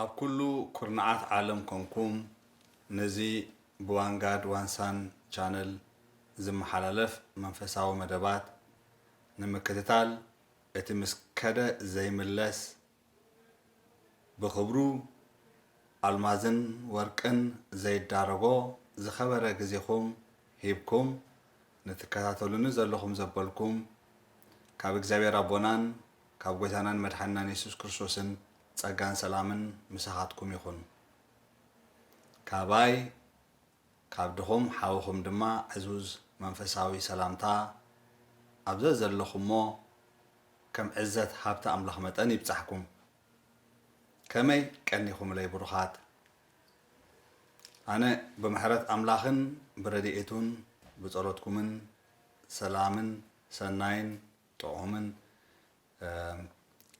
ኣብ ኩሉ ኩርናዓት ዓለም ኮንኩም ነዚ ብዋንጋድ ዋንሳን ቻነል ዝመሓላለፍ መንፈሳዊ መደባት ንምክትታል እቲ ምስ ከደ ዘይምለስ ብኽብሩ ኣልማዝን ወርቅን ዘይዳረጎ ዝኸበረ ግዜኹም ሂብኩም ንትከታተሉኒ ዘለኹም ዘበልኩም ካብ እግዚኣብሔር ኣቦናን ካብ ጎይታናን መድሓኒናን የሱስ ክርስቶስን ጸጋን ሰላምን ምሳኻትኩም ይኹን። ካባይ ካብ ድኹም ሓውኹም ድማ ዕዙዝ መንፈሳዊ ሰላምታ ኣብ ዘዘለኹሞ ከም ዕዘት ሃብቲ ኣምላኽ መጠን ይብጻሕኩም። ከመይ ቀኒኹምለይ ብሩኻት። ኣነ ብምሕረት ኣምላኽን ብረዲኤቱን ብጸሎትኩምን ሰላምን ሰናይን ጥዑምን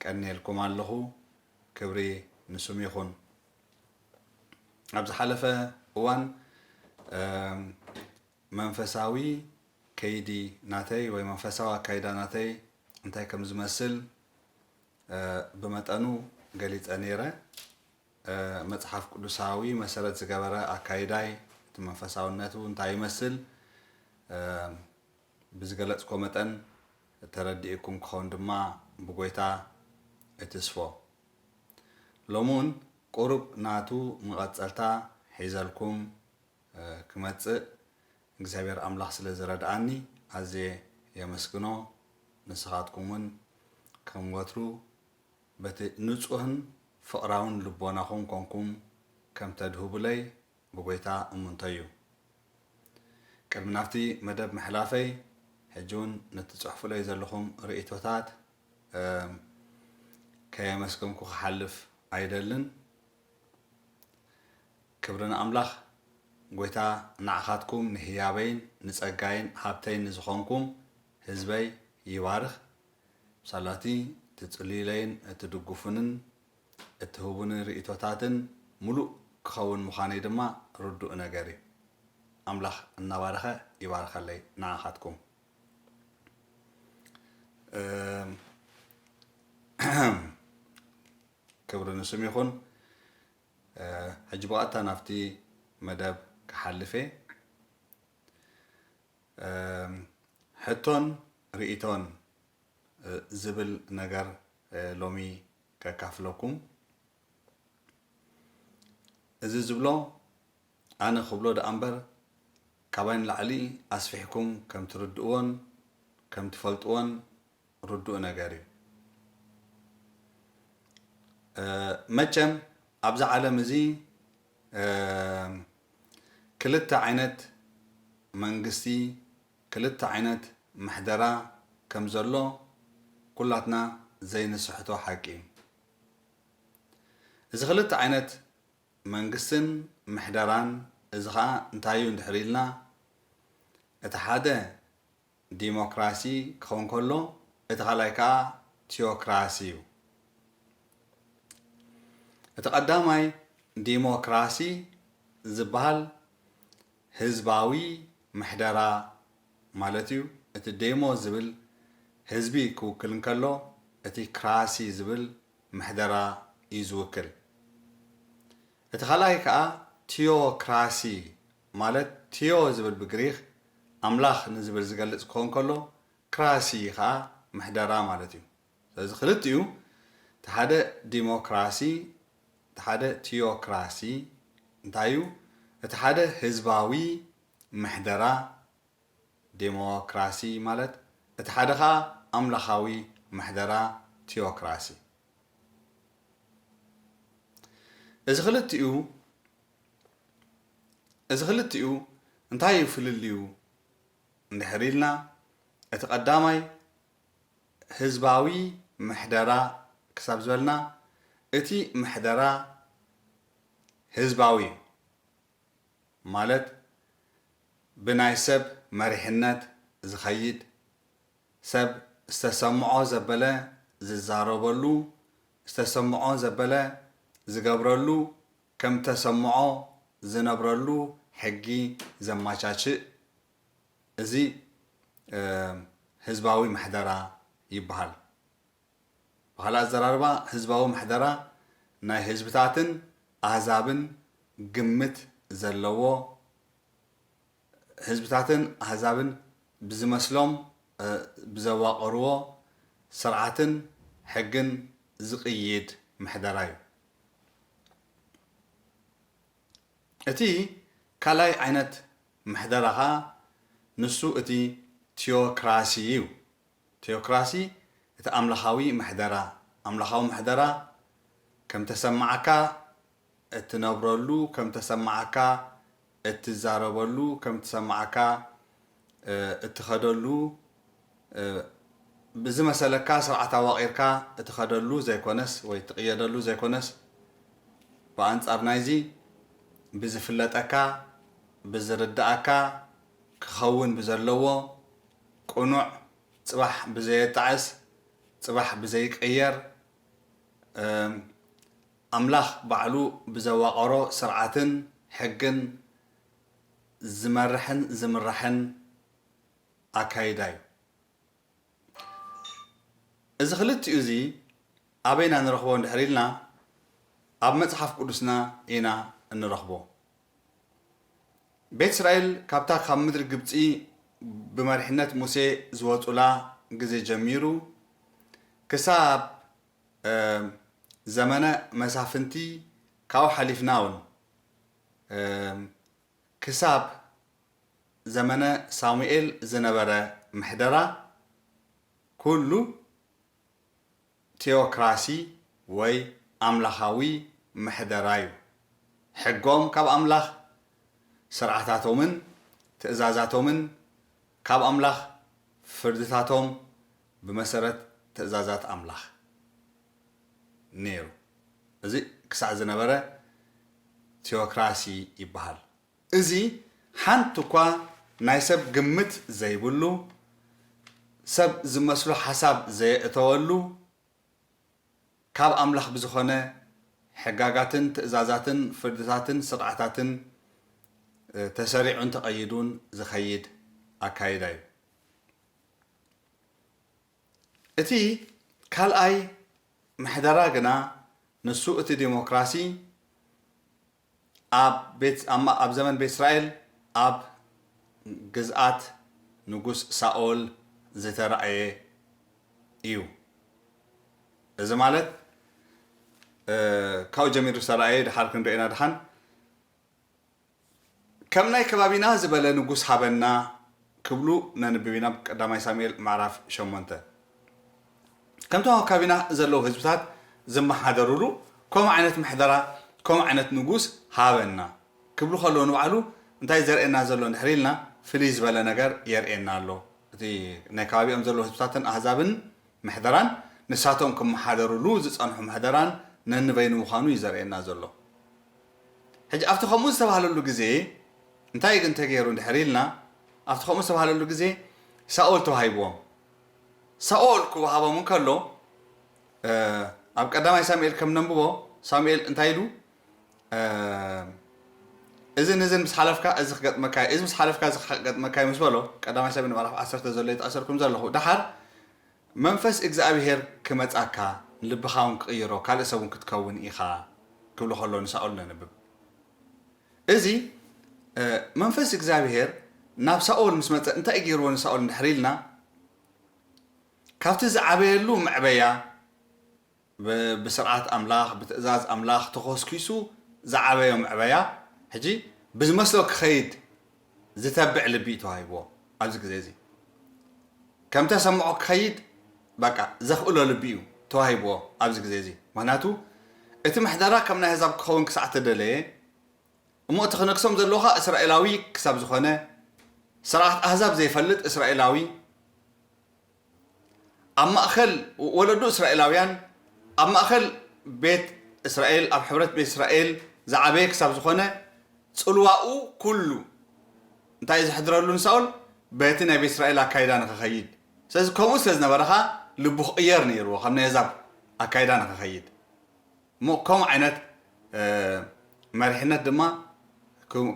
ቀንየልኩም ኣለኹ ክብሪ ንስም ይኹን ኣብ ዝሓለፈ እዋን መንፈሳዊ ከይዲ ናተይ ወይ መንፈሳዊ ኣካይዳ ናተይ እንታይ ከም ዝመስል ብመጠኑ ገሊፀ ነይረ መፅሓፍ ቅዱሳዊ መሰረት ዝገበረ ኣካይዳይ እቲ መንፈሳውነቱ እንታይ ይመስል ብዝገለጽኮ መጠን ተረዲኡኩም ክኸውን ድማ ብጎይታ እትስፎ። ሎሚ ውን ቁሩብ ናቱ መቐጸልታ ሒዘልኩም ክመጽእ እግዚኣብሔር ኣምላኽ ስለ ዝረድኣኒ ኣዝየ የመስግኖ። ንስኻትኩም ውን ከም ወትሩ በቲ ንጹህን ፍቕራውን ልቦናኹም ኮንኩም ከም ተድህቡለይ ብጐይታ እምንቶ'ዩ። ቅድሚ ናብቲ መደብ ምሕላፈይ፣ ሕጂ'ውን ነቲ ትጽሕፉለይ ዘለኹም ርእይቶታት ከየመስገንኩ ክሓልፍ ኣይደልን። ክብሪ ንኣምላኽ፣ ጐይታ ንዓኻትኩም፣ ንህያበይን ንጸጋይን ሃብተይን ንዝኾንኩም ህዝበይ ይባርኽ። ብሳላ'ቲ ትጽልዩለይን ትድግፉንን እትህቡኒ ርእይቶታትን ምሉእ ክኸውን ምዃነይ ድማ ርዱእ ነገር እዩ። ኣምላኽ እናባረኸ ይባርኸለይ ንዓኻትኩም። ክብሪ ንስም ይኹን። ሕጂ ብቐጥታ ናብቲ መደብ ክሓልፍ እየ። ሕቶን ርእይቶን ዝብል ነገር ሎሚ ከካፍለኩም እዚ ዝብሎ ኣነ ክብሎ ደኣ እምበር ካባይ ንላዕሊ ኣስፊሕኩም ከም ትርድእዎን ከም ትፈልጥዎን ርዱእ ነገር እዩ መቸም ኣብዚ ዓለም እዚ ክልተ ዓይነት መንግስቲ ክልተ ዓይነት ምሕደራ ከም ዘሎ ኩላትና ዘይንስሕቶ ሓቂ እዩ። እዚ ክልተ ዓይነት መንግስትን ምሕደራን እዚ ከኣ እንታይ እዩ እንድሕር ኢልና እቲ ሓደ ዲሞክራሲ ክኸውን ከሎ እቲ ካልኣይ ከኣ ቲዮክራሲ እዩ። እቲ ቀዳማይ ዲሞክራሲ ዝበሃል ህዝባዊ ምሕደራ ማለት እዩ። እቲ ዴሞ ዝብል ህዝቢ ክውክል እንከሎ እቲ ክራሲ ዝብል ምሕደራ እዩ ዝውክል። እቲ ካልኣይ ከኣ ቲዮክራሲ ማለት ቲዮ ዝብል ብግሪክ ኣምላኽ ንዝብል ዝገልጽ ክኸውን ከሎ ክራሲ ከኣ ምሕደራ ማለት እዩ። ስለዚ ክልቲኡ እቲ ሓደ ዲሞክራሲ እቲ ሓደ ቲዮክራሲ እንታይ እዩ እቲ ሓደ ህዝባዊ ምሕደራ ዴሞክራሲ ማለት እቲ ሓደ ከኣ ኣምላኻዊ ምሕደራ ቲዮክራሲ እዚ ክልቲኡ እዚ ክልቲኡ እንታይ እዩ ፍልልዩ እንድሕር ኢልና እቲ ቀዳማይ ህዝባዊ ምሕደራ ክሳብ ዝበልና እቲ ምሕደራ ህዝባዊ እዩ ማለት ብናይ ሰብ መሪሕነት ዝኸይድ፣ ሰብ ዝተሰምዖ ዘበለ ዝዛረበሉ፣ ዝተሰምዖ ዘበለ ዝገብረሉ፣ ከምተሰምዖ ዝነብረሉ ሕጊ ዘማቻችእ እዚ ህዝባዊ ምሕደራ ይበሃል። ብኻልእ ኣዘራርባ ህዝባዊ ምሕደራ ናይ ህዝብታትን ኣህዛብን ግምት ዘለዎ ህዝብታትን ኣህዛብን ብዝመስሎም ብዘዋቐርዎ ስርዓትን ሕግን ዝቕይድ ምሕደራ እዩ። እቲ ካልኣይ ዓይነት ምሕደራ ከኣ ንሱ እቲ ቲዮክራሲ እዩ። ቲዮክራሲ እቲ ኣምላኻዊ ምሕደራ፣ ኣምላኻዊ ምሕደራ ከም ተሰማዓካ እትነብረሉ፣ ከም ተሰማዓካ እትዛረበሉ፣ ከም ትሰማዓካ እትኸደሉ ብዝመሰለካ ስርዓት ኣዋቒርካ እትኸደሉ ዘይኮነስ ወይ እትቕየደሉ ዘይኮነስ ብኣንጻር ናይዚ ብዝፍለጠካ ብዝርደኣካ ክኸውን ብዘለዎ ቅኑዕ ጽባሕ ብዘየጣዕስ ጽባሕ ብዘይቅየር ኣምላኽ ባዕሉ ብዘዋቐሮ ስርዓትን ሕግን ዝመርሕን ዝምራሕን ኣካይዳ እዩ። እዚ ክልቲኡ እዚ ኣበይ ኢና ንረኽቦ እንድሕር ኢልና ኣብ መጽሓፍ ቅዱስና ኢና እንረኽቦ። ቤት እስራኤል ካብታ ካብ ምድሪ ግብጺ ብመሪሕነት ሙሴ ዝወጹላ ግዜ ጀሚሩ ክሳብ ዘመነ መሳፍንቲ ካብኡ ሓሊፍና እውን ክሳብ ዘመነ ሳሙኤል ዝነበረ ምሕደራ ኩሉ ቲኦክራሲ ወይ ኣምላኻዊ ምሕደራ'ዩ። ሕጎም ካብ ኣምላኽ፣ ስርዓታቶምን ትእዛዛቶምን ካብ ኣምላኽ፣ ፍርድታቶም ብመሰረት ትእዛዛት ኣምላኽ ነይሩ። እዚ ክሳዕ ዝነበረ ቲኦክራሲ ይበሃል። እዚ ሓንቲ እኳ ናይ ሰብ ግምት ዘይብሉ፣ ሰብ ዝመስሎ ሓሳብ ዘየእተወሉ፣ ካብ ኣምላኽ ብዝኾነ ሕጋጋትን ትእዛዛትን ፍርድታትን ስርዓታትን ተሰሪዑን ተቐይዱን ዝኸይድ ኣካይዳ እዩ። እቲ ካልኣይ ምሕደራ ግና ንሱ እቲ ዴሞክራሲ ኣብ ዘመን ቤት እስራኤል ኣብ ግዝኣት ንጉስ ሳኦል ዝተራእየ እዩ። እዚ ማለት ካብኡ ጀሚሩ ዝተራእየ ድሓር ክንሪኦ ኢና ድሓን። ከም ናይ ከባቢና ዝበለ ንጉስ ሃበና ክብሉ ነንብብ ኢና ኣብ ቀዳማይ ሳሙኤል ምዕራፍ ሸሞንተ። ከምቶም ኣብ ከባቢና ዘለዉ ህዝብታት ዝመሓደሩሉ ከምኡ ዓይነት ምሕደራ ከምኡ ዓይነት ንጉስ ሃበና ክብሉ ከለዉ ንባዕሉ እንታይ እዩ ዘርእየና ዘሎ እንድሕር ኢልና ፍልይ ዝበለ ነገር የርእየና ኣሎ። እቲ ናይ ከባቢኦም ዘለዉ ህዝብታትን ኣህዛብን ምሕደራን ንሳቶም ክመሓደሩሉ ዝጸንሑ ምሕደራን ነንበይኑ ምዃኑ እዩ ዘርእየና ዘሎ። ሕጂ ኣብቲ ከምኡ ዝተባህለሉ ግዜ እንታይ ግን ተገይሩ እንድሕር ኢልና ኣብቲ ከምኡ ዝተባህለሉ ግዜ ሳኦል ተዋሂብዎም። ሳኦል ክወሃቦም እንከሎ ኣብ ቀዳማይ ሳሙኤል ከም ነንብቦ ሳሙኤል እንታይ ኢሉ እዝን እዝን ምስ ሓለፍካ እዚ ክገጥመካ እዩ እዚ ምስ ሓለፍካ እዚ ክገጥመካ እዩ ምስ በሎ ቀዳማይ ሳሙኤል ምዕራፍ ዓሰርተ ዘሎ ይጠቐሰልኩም ዘለኹ ደሓር መንፈስ እግዝኣብሄር ክመጻካ ንልብካ ውን ክቅይሮ ካልእ ሰብ ውን ክትከውን ኢካ ክብሎ ከሎ ንሳኦል ነንብብ እዚ መንፈስ እግዝኣብሄር ናብ ሳኦል ምስ መጸ እንታይ እዩ ጌርዎ ንሳኦል እንድሕር ኢልና ካብቲ ዝዓበየሉ መዕበያ ብስርዓት ኣምላኽ ብትእዛዝ ኣምላኽ ተኾስኲሱ ዝዓበዮ ምዕበያ ሕጂ ብዝመስሎ ክኸይድ ዝተብዕ ልቢ እዩ ተዋሂብዎ ኣብዚ ግዜ እዚ ከምተሰምዖ ክኸይድ በቃ ዘኽእሎ ልቢ እዩ ተዋሂብዎ ኣብዚ ግዜ እዚ ምኽንያቱ እቲ ምሕደራ ከም ናይ ኣህዛብ ክኸውን ክሳዕ ተደለየ እሞ እቲ ክነግሶም ዘለዎ ከኣ እስራኤላዊ ክሳብ ዝኾነ ስርዓት ኣህዛብ ዘይፈልጥ እስራኤላዊ ኣብ ማእከል ወለዶ እስራኤላውያን፣ ኣብ ማእከል ቤት እስራኤል፣ ኣብ ሕብረት ቤት እስራኤል ዝዓበየ ክሳብ ዝኾነ፣ ጽልዋኡ ኩሉ እንታይ እዩ ዘሕድረሉ ንሳኦል? በቲ ናይ ቤት እስራኤል ኣካይዳ ንኸኸይድ። ስለዚ ከምኡ ስለ ዝነበረ ከኣ ልቡ ክቕየር ነይርዎ ካብ ናይ ኣህዛብ ኣካይዳ ንኸኸይድ። እሞ ከምኡ ዓይነት መሪሕነት ድማ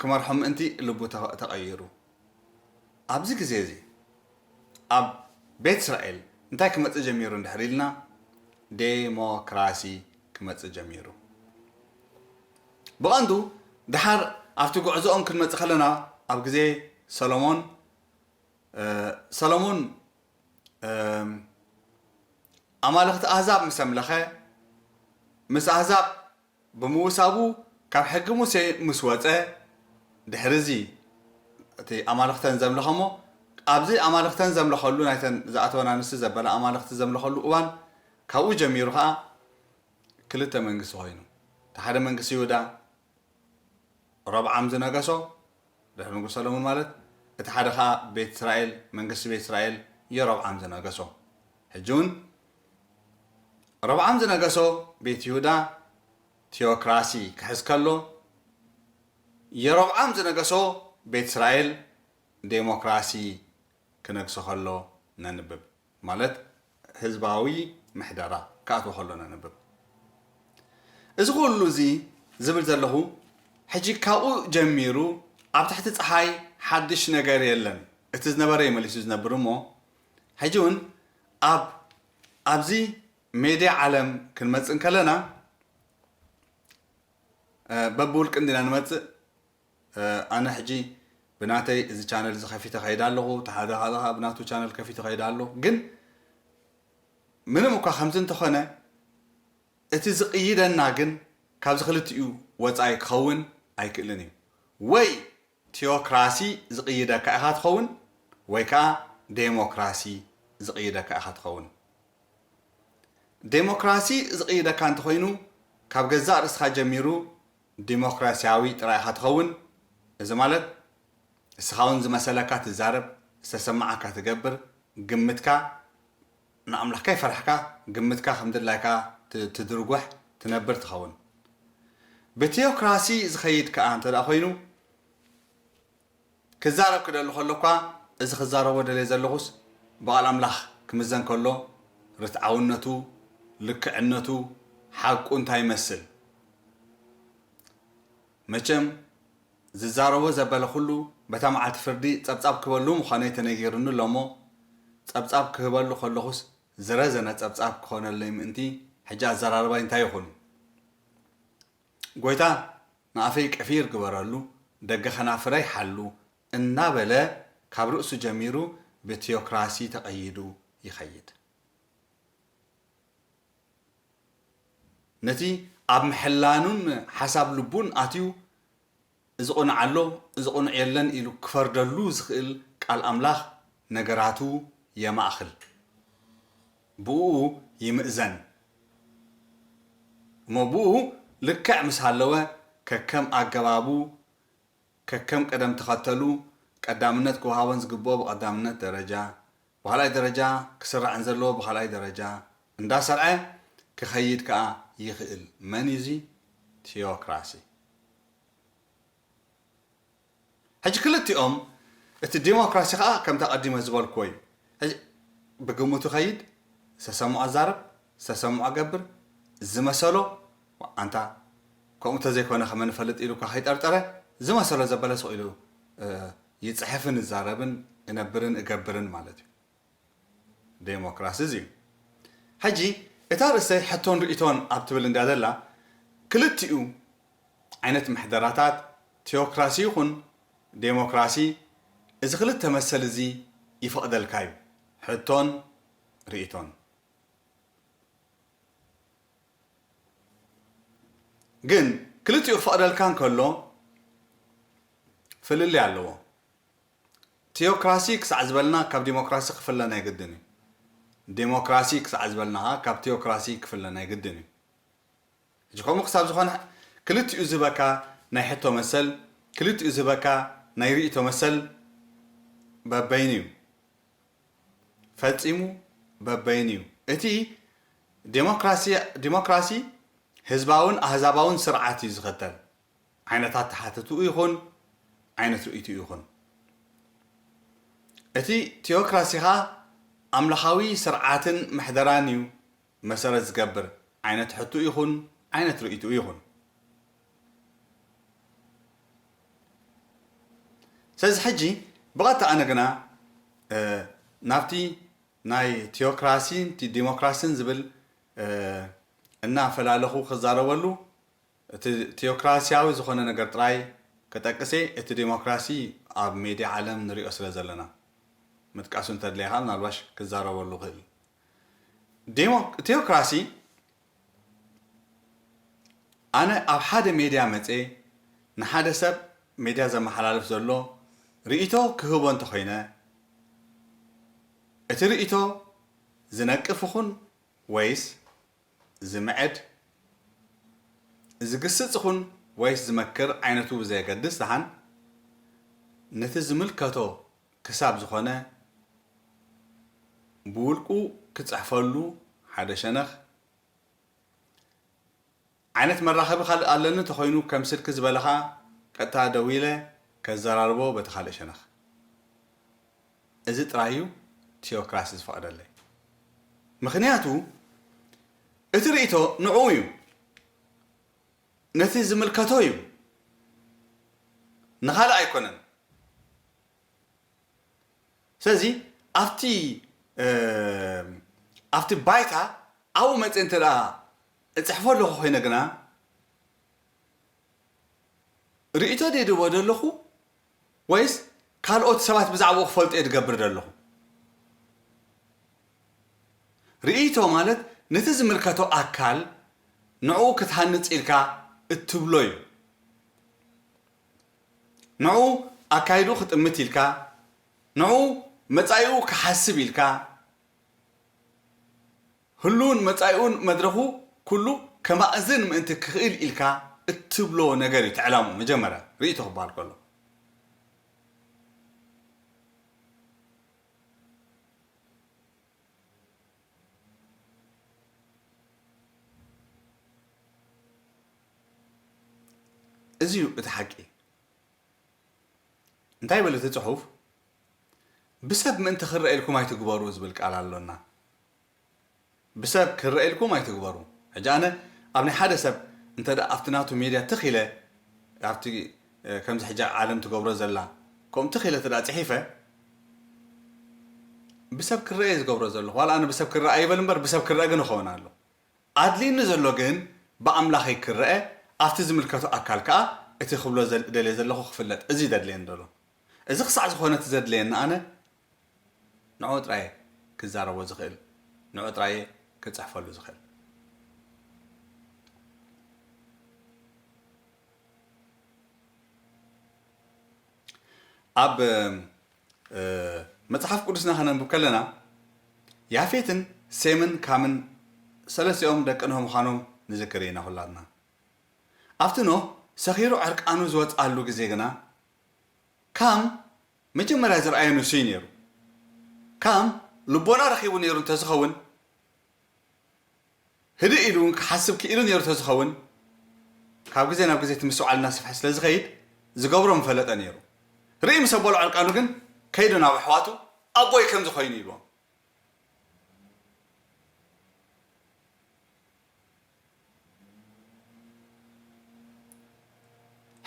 ክመርሖም ምእንቲ ልቡ ተቐይሩ። ኣብዚ ግዜ እዚ ኣብ ቤት እስራኤል እንታይ ክመጽእ ጀሚሩ እንድሕር ኢልና ዴሞክራሲ ክመጽእ ጀሚሩ ብቐንዱ ድሓር ኣብቲ ጉዕዞኦም ክንመጽእ ከለና ኣብ ግዜ ሰሎሞን ሰሎሞን ኣማልኽቲ ኣህዛብ ምስ ኣምለኸ ምስ ኣህዛብ ብምውሳቡ ካብ ሕጊ ሙሴ ምስ ወጸ ድሕርዚ እቲ ኣማልኽተን ዘምለኸሞ ኣብዚ ኣማልኽተን ዘምለኸሉ ናይተን ዝኣተወን ኣንስቲ ዘበላ ኣማልኽቲ ዘምለኸሉ እዋን ካብኡ ጀሚሩ ከኣ ክልተ መንግስቲ ኮይኑ እቲ ሓደ መንግስቲ ይሁዳ ሮብዓም ዝነገሶ ድሕሪ ንጉስ ሰለሙን ማለት እቲ ሓደ ከኣ ቤት እስራኤል መንግስቲ ቤት እስራኤል የሮብዓም ዝነገሶ ሕጂ ውን ሮብዓም ዝነገሶ ቤት ይሁዳ ቲኦክራሲ ክሕዝ ከሎ፣ የሮብዓም ዝነገሶ ቤት እስራኤል ደሞክራሲ ክነግሶ ከሎ ነንብብ፣ ማለት ህዝባዊ ምሕደራ ክኣትዎ ከሎ ነንብብ። እዚ ኩሉ እዚ ዝብል ዘለኹ ሕጂ ካብኡ ጀሚሩ ኣብ ትሕቲ ጸሓይ ሓድሽ ነገር የለን፣ እቲ ዝነበረ'ዩ መሊሱ ዝነብር እሞ ሕጂ ውን ኣብ ኣብዚ ሜድያ ዓለም ክንመጽእ እንከለና በብውልቂ እንዲና ንመጽእ ኣነ ሕጂ ብናተይ እዚ ቻነል እዚ ከፊተ ከይድ ኣለኹ ተሓደ ሓደ ከዓ ብናቱ ቻነል ከፊተ ከይድ ኣሎ ግን ምንም እኳ ከምዚ እንተኾነ እቲ ዝቕይደና ግን ካብዚ ክልቲኡ ወፃኢ ክኸውን ኣይክእልን እዩ ወይ ቲኦክራሲ ዝቕይደካ ኢኻ ትኸውን ወይ ከኣ ዴሞክራሲ ዝቕይደካ ኢኻ ትኸውን። ዴሞክራሲ ዝቕይደካ እንተኾይኑ ካብ ገዛእ ርእስኻ ጀሚሩ ዲሞክራሲያዊ ጥራይ ኢኻ ትኸውን። እዚ ማለት እስኻውን ዝመሰለካ ትዛረብ፣ ዝተሰማዓካ ትገብር፣ ግምትካ ንኣምላኽ ከይፈራሕካ ግምትካ ከም ድላይካ ትድርጐሕ ትነብር ትኸውን። ብቲኦክራሲ ዝኸይድ ከኣ እንተ ዀይኑ፣ ክዛረብ ክደሊ ከሎ'ኳ እዚ ክዛረቦ ደልየ ዘለኹስ ብቓል ኣምላኽ ክምዘን ከሎ ርትዓውነቱ፣ ልክዕነቱ፣ ሓቁ እንታይ ይመስል? መቸም ዝዛረቦ ዘበለ ኩሉ በታ መዓልቲ ፍርዲ ጸብጻብ ክህበሉ ምዃነይ ተነጊሩኒ ኣሎ'ሞ፣ ጸብጻብ ክህበሉ ከለኹስ ዝረዘነ ጸብጻብ ክኾነለይ ምእንቲ ሕጂ ኣዘራርባይ እንታይ ይኹን? ጎይታ ንኣፈይ ቀፊር ግበረሉ፣ ደገ ከናፍረይ ሓሉ እናበለ ካብ ርእሱ ጀሚሩ ብቲዮክራሲ ተቐይዱ ይኸይድ። ነቲ ኣብ ምሕላኑን ሓሳብ ልቡን ኣትዩ እዚ ቅኑዕ ኣሎ እዚ ቅኑዕ የለን ኢሉ ክፈርደሉ ዝኽእል ቃል ኣምላኽ ነገራቱ የማእኽል ብእኡ ይምእዘን እሞ ብእኡ ልክዕ ምስ ሃለወ ከከም ኣገባቡ ከከም ቅደም ተኸተሉ ቀዳምነት ክወሃቦን ዝግብኦ ብቐዳምነት ደረጃ ብካልኣይ ደረጃ ክስራዕን ዘለዎ ብካልኣይ ደረጃ እንዳሰርዐ ክከይድ ከኣ ይክእል መን እዩ እዚ ቲዮክራሲ ሕጂ ክልቲኦም እቲ ዲሞክራሲ ከኣ ከምቲ ኣቀዲመ ዝበልክዎ እዩ ሕጂ ብግምቱ ከይድ ዝተሰምዖ ዛረብ ዝተሰምዖ ገብር ዝመሰሎ ኣንታ ከምኡ ተዘይኮነ ከመ ንፈልጥ ኢሉካ ከይጠርጠረ ዝመሰሎ ዘበለ ስቅ ኢሉ ይጽሕፍን እዛረብን እነብርን እገብርን ማለት እዩ ደሞክራሲ እዚ እዩ ሕጂ እታ ርእሰይ ሕቶን ርእይቶን ኣብ ትብል እንድያ ዘላ ክልቲኡ ዓይነት ምሕደራታት ቲዮክራሲ ይኹን ደሞክራሲ እዚ ክልተ መሰል እዚ ይፈቕደልካ እዩ ሕቶን ርእይቶን ግን ክልቲኡ ክፈቕደልካ እንከሎ ፍልልይ ኣለዎ። ቲዮክራሲ ክሳዕ ዝበልና ካብ ዲሞክራሲ ክፍለ ናይ ግድን እዩ። ዲሞክራሲ ክሳዕ ዝበልና ከኣ ካብ ቲዮክራሲ ክፍለ ናይ ግድን እዩ። ሕጂ ከምኡ ክሳብ ዝኾነ ክልቲኡ ዝህበካ ናይ ሕቶ መሰል፣ ክልቲኡ ዝህበካ ናይ ርእይቶ መሰል በበይኑ እዩ። ፈጺሙ በበይኑ እዩ። እቲ ዴሞክራሲ ህዝባውን ኣህዛባውን ስርዓት እዩ ዝኸተል። ዓይነት ኣተሓትትኡ ይኹን ዓይነት ርእይትኡ ይኹን። እቲ ቲኦክራሲኻ ኣምላኻዊ ስርዓትን ምሕደራን እዩ። መሰረት ዝገብር ዓይነት ሕትኡ ይኹን ዓይነት ርእይትኡ ይኹን። ስለዚ ሕጂ ብቐጥታ ኣነ ግና ናብቲ ናይ ቲዮክራሲን ዲሞክራሲን ዝብል እናፈላለኹ ክዛረበሉ እቲ ቲዮክራሲያዊ ዝኾነ ነገር ጥራይ ክጠቅሴ እቲ ዲሞክራሲ ኣብ ሜድያ ዓለም ንሪኦ ስለ ዘለና ምጥቃሱ እንተድለየኻ ምናልባሽ ክዛረበሉ ክእል ቴዎክራሲ ኣነ ኣብ ሓደ ሜድያ መጽየ ንሓደ ሰብ ሜድያ ዘመሓላልፍ ዘሎ ርእይቶ ክህቦ እንተኾይነ እቲ ርእይቶ ዝነቅፍ ይኹን ወይስ ዝምዕድ፣ ዝግስጽ ይኹን ወይስ ዝመክር ዓይነቱ ብዘየገድስ ደሓን ነቲ ዝምልከቶ ክሳብ ዝኾነ ብውልቁ ክጽሕፈሉ ሓደ ሸነኽ፣ ዓይነት መራኸቢ ካልእ ኣለኒ እንተኾይኑ ከም ስልኪ ዝበለ ከኣ ቀጥታ ደዊለ ከዘራርቦ በቲ ካልእ ሸነኽ። እዚ ጥራይ እዩ ቲኦክራሲ ዝፈቕደለይ። ምኽንያቱ እቲ ርእይቶ ንዕኡ እዩ። ነቲ ዝምልከቶ እዩ። ንኻልእ ኣይኮነን። ስለዚ ኣብቲ ኣብቲ ባይታ ኣብኡ መፅእ እንተ እፅሕፎ ኣለኹ ኮይነ ግና ርእቶ ድየ ድቦ ዘለኹ ወይስ ካልኦት ሰባት ብዛዕባኡ ክፈልጡ እየ ዝገብር ዘለኹ ርእቶ ማለት ነቲ ዝምልከቶ ኣካል ንዕኡ ክትሃንፅ ኢልካ እትብሎ እዩ ንዕኡ ኣካይድኡ ክጥምት ኢልካ፣ ንዕኡ መጻኢኡ ክሓስብ ኢልካ፣ ህሉውን መጻኢኡን መድረኹ ኩሉ ከማእዝን ምእንቲ ክኽእል ኢልካ እትብሎ ነገር እዩ እቲ ዕላምኡ መጀመርያ ርእይቶ ክበሃል ከሎ። እዚ እዩ እቲ ሓቂ። እንታይ ይብል እቲ ጽሑፍ? ብሰብ ምእንቲ ክረኣ ኢልኩም ኣይትግበሩ ዝብል ቃል ኣሎና። ብሰብ ክረኣ ኢልኩም ኣይትግበሩ። ሕጂ ኣነ ኣብ ናይ ሓደ ሰብ እንተ ድኣ ኣብቲ ናቱ ሜድያ ትኽ ኢለ ኣብቲ ከምዚ ሕጂ ዓለም ትገብሮ ዘላ ከምኡ ትኽ ኢለ እንተ ድኣ ጽሒፈ ብሰብ ክረኣ እየ ዝገብሮ ዘለኹ። ዋላ ኣነ ብሰብ ክረኣ ኣይበል እምበር ብሰብ ክረኣ ግን እኸውን ኣሎ። ኣድልይኒ ዘሎ ግን ብኣምላኸይ ክረኣ ኣብቲ ዝምልከቶ ኣካል ከኣ እቲ ክብሎ እደልዮ ዘለኹ ክፍለጥ እዚ እዩ ዘድልየኒ ዘሎ እዚ ክሳዕ ዝኾነ እቲ ዘድልየኒ ኣነ ንዕኡ ጥራይ እየ ክዛረቦ ዝኽእል ንዕኡ ጥራይ እየ ክጽሕፈሉ ዝኽእል። ኣብ መጽሓፍ ቅዱስና ኸነንብብ ከለና፣ ያፌትን ሴምን ካምን ሰለስቲኦም ደቂ ኖህ ምዃኖም ንዝክር ኢና ዅላትና። ኣብቲ ኖህ ሰኺሩ ዕርቃኑ ዝወጽኣሉ ግዜ ግና፣ ካም መጀመርያ ዝረኣየ ንሱ እዩ ነይሩ። ካም ልቦና ረኺቡ ነይሩ እንተ ዝኸውን፣ ህድእ ኢሉ እውን ክሓስብ ክኢሉ ነይሩ ተዝኸውን፣ ካብ ግዜ ናብ ግዜ እቲ ምስትውዓል እናሰፍሐ ስለዝኸይድ ዝገብሮ ምፈለጠ ነይሩ። ርእይ ምስ ኣበሎ ዕርቃኑ ግን ከይዱ ናብ ኣሕዋቱ ኣቦይ ከምዚ ኮይኑ ኢሉዎም።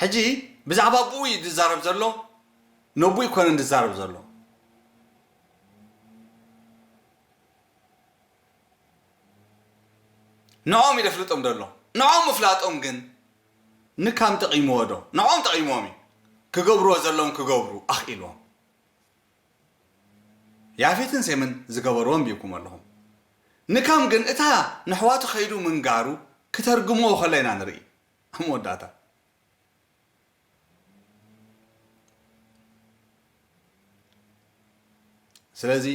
ሕጂ ብዛዕባ ኣቡኡ እዩ ዝዛረብ ዘሎ ነቡኡ ኣይኮነን ዝዛረብ ዘሎ ንኦም እዩ ደፍልጦም ዘሎ ንኦም ምፍላጦም ግን ንካም ጠቒምዎ ዶ ንኦም ጠቒምዎም እዩ ክገብርዎ ዘለዎም ክገብሩ ኣኽኢልዎም ያፌትን ሴምን ዝገበርዎ ኣንቢብኩሞ ኣለኹም። ንካም ግን እታ ነሕዋቱ ከይዱ ምንጋሩ ክተርግምዎ ከሎ ኢና ንርኢ። ኣብ መወዳእታ። ስለዚ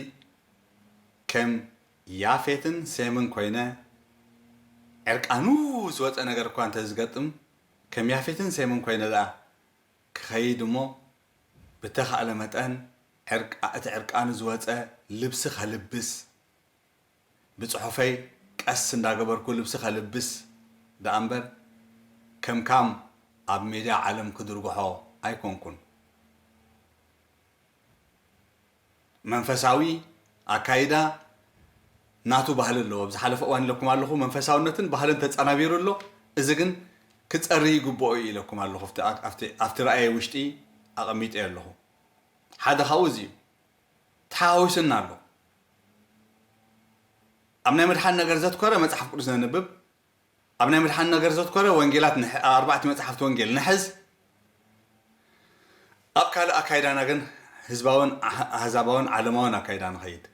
ከም ያፌትን ሴምን ኮይነ ዕርቃኑ ዝወጸ ነገር እኳ እንተዝገጥም ከም ያፌትን ሴምን ኮይነ ደኣ ክኸይድ እሞ ብተኻእለ መጠን ዕርቃ እቲ ዕርቃኑ ዝወጸ ልብሲ ከልብስ ብጽሑፈይ ቀስ እንዳገበርኩ ልብሲ ከልብስ ደኣ እምበር ከም ካም ኣብ ሜድያ ዓለም ክድርጉሖ ኣይኮንኩን። መንፈሳዊ ኣካይዳ ናቱ ባህሊ ኣለዎ። ኣብ ዝሓለፈ እዋን ኢለኩም ኣለኹ፣ መንፈሳውነትን ባህልን ተጸናቢሩ ኣሎ፣ እዚ ግን ክጸሪ ይግብኦ እዩ ኢለኩም ኣለኹ፣ ኣብቲ ኣብቲ ኣብቲ ራእየይ ውሽጢ ኣቐሚጠዮ ኣለኹ። ሓደ ካብኡ እዚ እዩ። ተሓዋዊሱና ኣሎ። ኣብ ናይ ምድሓን ነገር ዘትኮረ መጽሓፍ ቅዱስ ነንብብ፣ ኣብ ናይ ምድሓን ነገር ዘትኮረ ወንጌላት ንሕ ኣብ ኣርባዕቲ መጻሕፍቲ ወንጌል ንሕዝ፣ ኣብ ካልእ ኣካይዳና ግን ህዝባውን ኣህዛባውን ዓለማውን ኣካይዳ ንኸይድ።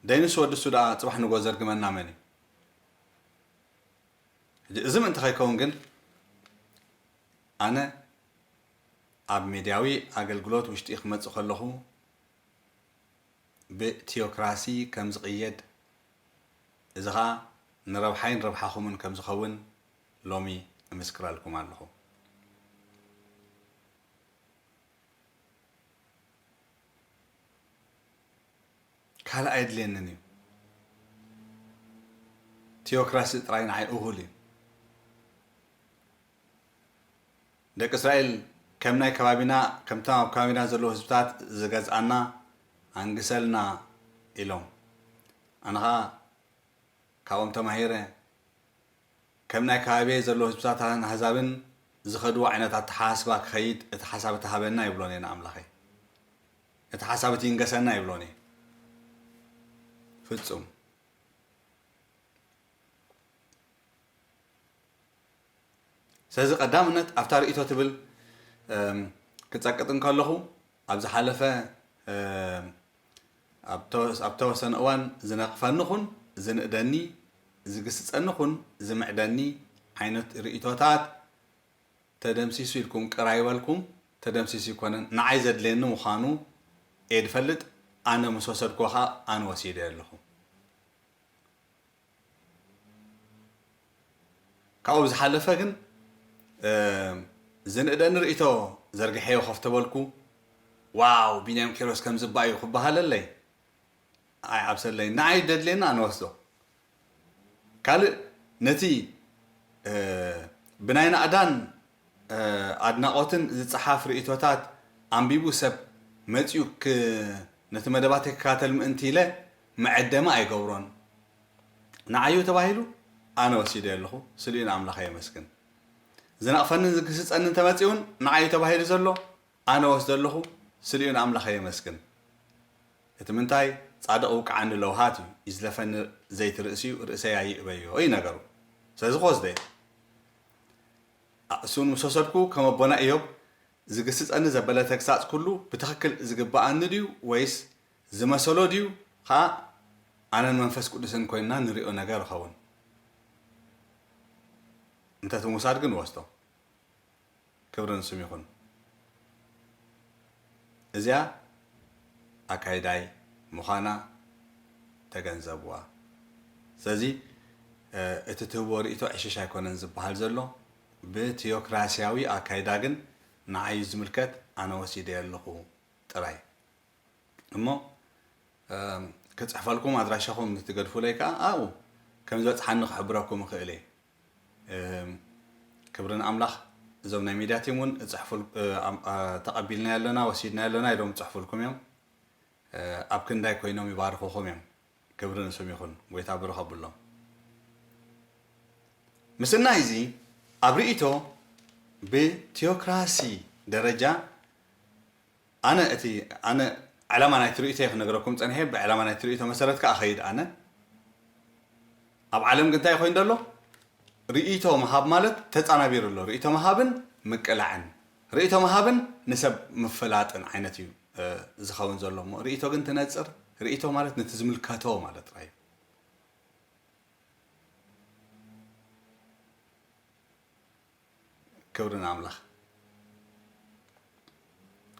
ደይንስ ወዲ እሱ ደኣ ጽባሕ ንግሆ ዘርግመና መን እዩ? ሕጂ እዚ ምእንቲ ከይከውን ግን ኣነ ኣብ ሜድያዊ ኣገልግሎት ውሽጢ ክመጽእ ከለኹ፣ ብቲዮክራሲ ከም ዝቕየድ እዚ ኸኣ ንረብሓይን ረብሓኹምን ከም ዝኸውን ሎሚ እምስክረልኩም ኣለኹ። ካልእ ኣየድልየንን እዩ። ቲዮክራሲ ጥራይ ንዓይ እኹል እዩ። ደቂ እስራኤል ከም ናይ ከባቢና ከምቶም ኣብ ከባቢና ዘለዉ ህዝብታት ዝገዝኣና ኣንግሰልና ኢሎም ኣነ ኸኣ ካብኦም ተማሂረ ከም ናይ ከባቢየይ ዘለዉ ህዝብታትን ኣህዛብን ዝኸድዎ ዓይነት ኣተሓሳስባ ክኸይድ እቲ ሓሳብ እቲ ሃበና ይብሎን እየ ንኣምላኸይ እቲ ሓሳብ እቲ ይንገሰና ይብሎን እየ ፍጹም ስለዚ ቀዳምነት ኣብታ ርእይቶ ትብል ክጸቅጥ እንከለኹ ኣብ ዝሓለፈ ኣብ ተወሰነ እዋን ዝነቕፈኒ ኹን ዝንእደኒ ዝግስጸኒ ኹን ዝምዕደኒ ዓይነት ርእይቶታት ተደምሲሱ ኢልኩም ቅር ኣይበልኩም ተደምሲሱ ይኮነን ንዓይ ዘድልየኒ ምዃኑ እየ ዝፈልጥ ኣነ ምስ ወሰድኩዎ ከኣ ኣነ ወሲደዮ ኣለኹ ካብኡ ብዝሓለፈ ግን ዝንእደኒ ርእይቶ ዘርጊሐዮ ኮፍ ተበልኩ። ዋው ቢንያም ኪሮስ ከምዚ እባ እዩ ክበሃለለይ ኣይዓብሰለይን። ንዓይ ደድልየኒ ኣነ ወስዶ። ካልእ ነቲ ብናይ ናእዳን ኣድናቖትን ዝጸሓፍ ርእይቶታት ኣንቢቡ ሰብ መጺኡ ነቲ መደባተይ ክከታተል ምእንቲ ኢለ መዐደሚ ኣይገብሮን ንዓዩ ተባሂሉ ኣነ ወሲደዮ ኣለኹ ስልዩ ንኣምላኸ የመስግን ዝነቕፈንን ዝግስጸንን ተመጺኡን ንዓዩ ተባሂሉ ዘሎ ኣነ ወስዶ ኣለኹ ስልዩ ንኣምላኸ የመስግን እቲ ምንታይ ጻድቕ ውቅዓኒ ለውሃት እዩ ይዝለፈኒ ዘይቲ ርእሲዩ ርእሰይ ኣይእበዮ እዩ ነገሩ ስለዚ ክወስደዮ ኣእሱን ምስ ወሰድኩ ከም ኣቦና እዮብ ዝግስጸኒ ዘበለ ተግሳጽ ኩሉ ብትኽክል ዝግብኣኒ ድዩ ወይስ ዝመሰሎ ድዩ ኸኣ ኣነን መንፈስ ቅዱስን ኮይንና ንሪኦ ነገር እኸውን? እንተ እቲ ምውሳድ ግን ንወስዶ። ክብሪ ንስም ይኹን። እዚኣ ኣካይዳይ ምዃና ተገንዘብዋ። ስለዚ እቲ ትህቦ ርእይቶ ዕሽሽ ኣይኮነን ዝበሃል ዘሎ። ብቲዮክራሲያዊ ኣካይዳ ግን ንዓይ እዩ ዝምልከት ኣነ ወሲደዮ ኣለኹ ጥራይ። እሞ ክጽሕፈልኩም ኣድራሻኹም ምስ ትገድፉለይ ከኣ ኣብኡ ከም ዝበጽሓኒ ክሕብረኩም እኽእል እየ ክብሪ ንኣምላኽ እዞም ናይ ሚድያ ቲም እውን ተቐቢልናዮ ኣለና ወሲድናዮ ኣለና ኢሎም ይፅሕፉልኩም እዮም ኣብ ክንዳይ ኮይኖም ይባርኹኹም እዮም ክብሪ ንስም ይኹን ጎይታ ብሩኽ ኣብሎም ምስናይ እዚ ኣብ ርእይቶ ብቲዮክራሲ ደረጃ ኣነ እቲ ኣነ ዕላማ ናይቲ ርእይቶይ ክነግረኩም ጸኒሐ ብዕላማ ናይቲ ርእይቶ መሰረት ከኣ እኸይድ ኣነ ኣብ ዓለም ግን እንታይ ኮይኑ ዘሎ ርእይቶ ምሃብ ማለት ተጻናቢሩ ኣሎ ርእይቶ ምሃብን ምቅላዕን ርእይቶ ምሃብን ንሰብ ምፍላጥን ዓይነት እዩ ዝኸውን ዘሎ እሞ ርእይቶ ግን ትነጽር ርእይቶ ማለት ነቲ ዝምልከቶ ማለት ጥራይ እዩ ክብሪ ንኣምላኽ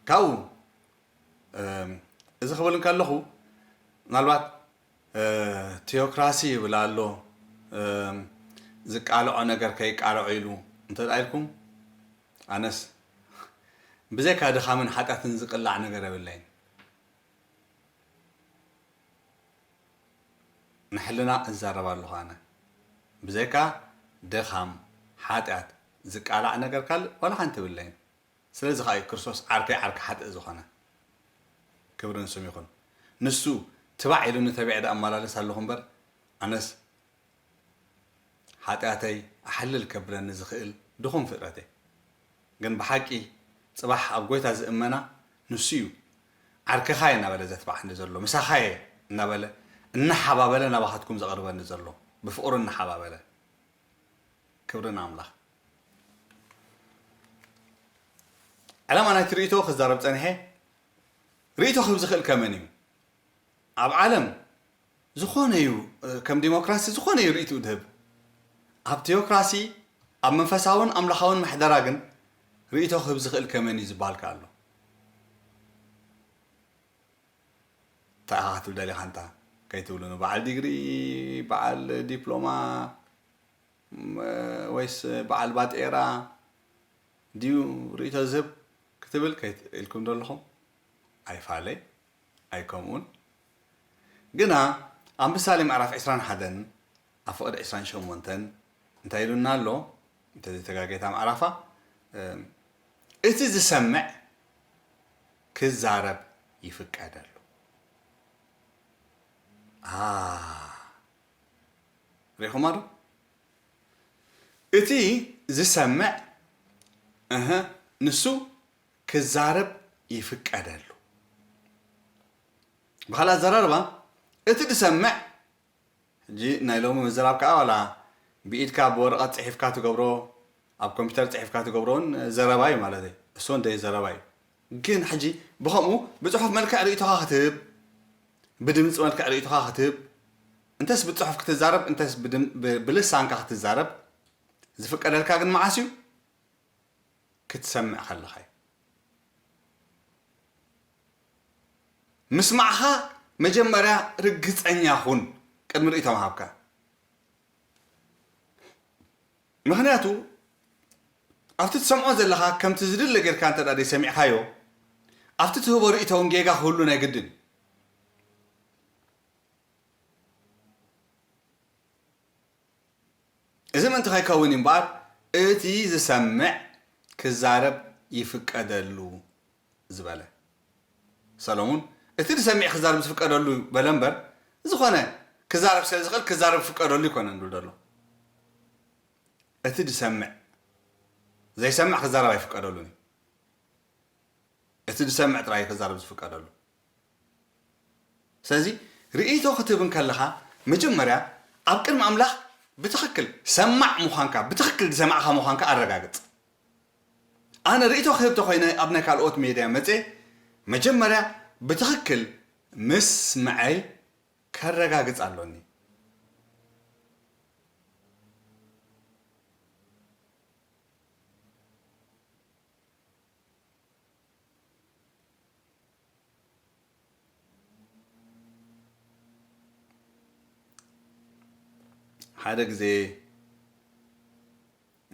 ካብኡ እዚ ክብል እንከለኹ ምናልባት ቴዎክራሲ ይብል ኣሎ ዝቃልዖ ነገር ከይቃልዖ ኢሉ እንተ ኢልኩም ኣነስ ብዘይካ ድኻምን ሓጢኣትን ዝቅላዕ ነገር የብለይን ንሕልና እዛረብ ኣለኹ ኣነ። ብዘይካ ድኻም፣ ሓጢኣት፣ ዝቃላዕ ነገር ካልእ ዋላ ሓንቲ የብለይን። ስለዚ ኸኣ'ዩ ክርስቶስ ዓርከይ ዓርኪ ሓጥእ ዝኾነ። ክብሪ ንስሙ ይኹን። ንሱ ትባዕ ኢሉኒ ተቢዐ ደኣ እመላለስ ኣለኹ እምበር ኣነስ ሓጢኣተይ ኣሕልል ከብለኒ ዝኽእል ድኹም ፍጥረት'የ። ግን ብሓቂ ጽባሕ ኣብ ጎይታ ዝእመና ንሱ እዩ ዓርከኻየ እናበለ ዘትብዓኒ ዘሎ ምሳኻየ እናበለ እናሓባበለ ናባኻትኩም ዘቕርበኒ ዘሎ ብፍቕሩ እናሓባበለ ክብሪ ንኣምላኽ ዕላማ ናይቲ ርእይቶ ክዛረብ ጸኒሐ ርእይቶ ክህብ ዝኽእል ከመን እዩ ኣብ ዓለም ዝኾነ እዩ ከም ዲሞክራሲ ዝኾነ እዩ ርእይትኡ ዝህብ። ኣብ ቲዮክራሲ፣ ኣብ መንፈሳውን ኣምላኻውን ምሕደራ ግን ርእይቶ ክህብ ዝኽእል ከመይ እዩ ዝበሃል ከኣ ኣሎ። እንታይ ኢኻ ክትብል ደሊኻ ኣንታ ከይትብሉኑ በዓል ዲግሪ በዓል ዲፕሎማ ወይስ በዓል ባጤራ ድዩ ርእይቶ ዝህብ ክትብል ከይት ኢልኩም ደለኹም ኣይፋለይ ኣይከምኡን ግና ኣብ ምሳሌ ምዕራፍ ዕስራን ሓደን ኣብ ፍቕድ ዕስራን ሸሞንተን እንታይ ኢሉና ኣሎ እንተዘይተጋግየ እታ ምዕራፋ እቲ ዝሰምዕ ክዛረብ ይፍቀደሉ ኣህ ሪኢኹማ ዶ እቲ ዝሰምዕ እህ ንሱ ክዛረብ ይፍቀደሉ ብኻልእ ኣዘራርባ እቲ ዝሰምዕ ሕጂ ናይ ሎሚ ምዝራብ ከኣ ዋላ ብኢድካ ብወረቐት ጽሒፍካ ትገብሮ ኣብ ኮምፒተር ጽሒፍካ ትገብሮ ውን ዘረባ እዩ ማለተይ እሱ ውን ደይ ዘረባ እዩ ግን ሕጂ ብኸምኡ ብጽሑፍ መልክዕ ርእይቶኻ ክትህብ ብድምጺ መልክዕ ርእይቶኻ ክትህብ እንተስ ብጽሑፍ ክትዛረብ እንተስ ብልሳንካ ክትዛረብ ዝፍቀደልካ ግን መዓስ እዩ ክትሰምዕ ከለኻ እዩ። ምስማዕኻ መጀመርያ ርግጸኛ ኹን ቅድሚ ርእይቶ ምሃብካ። ምክንያቱ ኣብቲ ትሰምዖ ዘለኻ ከምቲ ዝድለ ጌርካ እንተ ዘይሰሚዕካዮ ኣብቲ ትህቦ ርእይቶ እውን ጌጋ ክህሉ ናይ ግድን እዩ። እዚ ምእንቲ ከይከውን እዩ እምበኣር እቲ ዝሰምዕ ክዛረብ ይፍቀደሉ ዝበለ። ሰሎሙን እቲ ዝሰሚዕ ክዛረብ ዝፍቀደሉ በለ እምበር ዝኾነ ክዛረብ ስለ ዝኽእል ክዛረብ ክፍቀደሉ ኣይኮነን ዝብል ዘሎ። እቲ ዝሰምዕ ዘይሰምዕ ክዛረብ ኣይፍቀደሉን እዩ። እቲ ዝሰምዕ ጥራይ እዩ ክዛረብ ዝፍቀደሉ። ስለዚ ርእይቶ ክትህብ እንከለኻ መጀመርያ ኣብ ቅድሚ ኣምላኽ ብትኽክል ሰማዕ ምዃንካ ብትኽክል ዝሰማዕካ ምዃንካ ኣረጋግጽ። ኣነ ርእይቶ ክህብ ተኾይነ ኣብ ናይ ካልኦት ሜድያ መጼ መጀመርያ ብትኽክል ምስምዐይ ከረጋግጽ ኣሎኒ። ሓደ ግዜ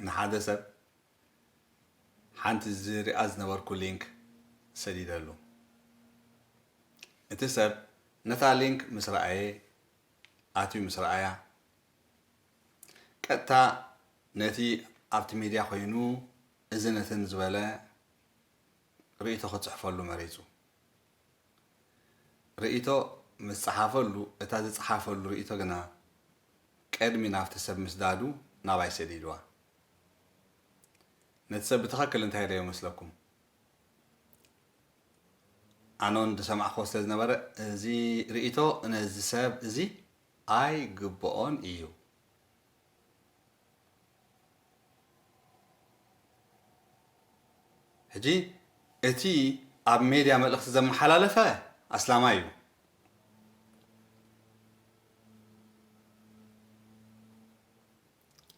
ንሓደ ሰብ ሓንቲ ዝሪኣ ዝነበርኩ ሊንክ ሰዲደሉ እቲ ሰብ ነታ ሊንክ ምስ ረኣየ ኣትዩ ምስ ረኣያ ቀጥታ ነቲ ኣብቲ ሚድያ ኮይኑ እዚ ነትን ዝበለ ርእይቶ ክጽሕፈሉ መሪጹ። ርእይቶ ምስ ጸሓፈሉ፣ እታ ዝጸሓፈሉ ርእይቶ ግና ቀድሚ ናብቲ ሰብ ምስዳዱ ናባይ ሰዲድዋ። ነቲ ሰብ ብትኸክል እንታይ ኢለዮ መስለኩም? ኣነውን ዝሰማዕክዎ ስለ ዝነበረ እዚ ርእይቶ ነዚ ሰብ እዚ ኣይግብኦን ኢዩ። ሕጂ እቲ ኣብ ሜድያ መልእኽቲ ዘመሓላለፈ ኣስላማይ እዩ።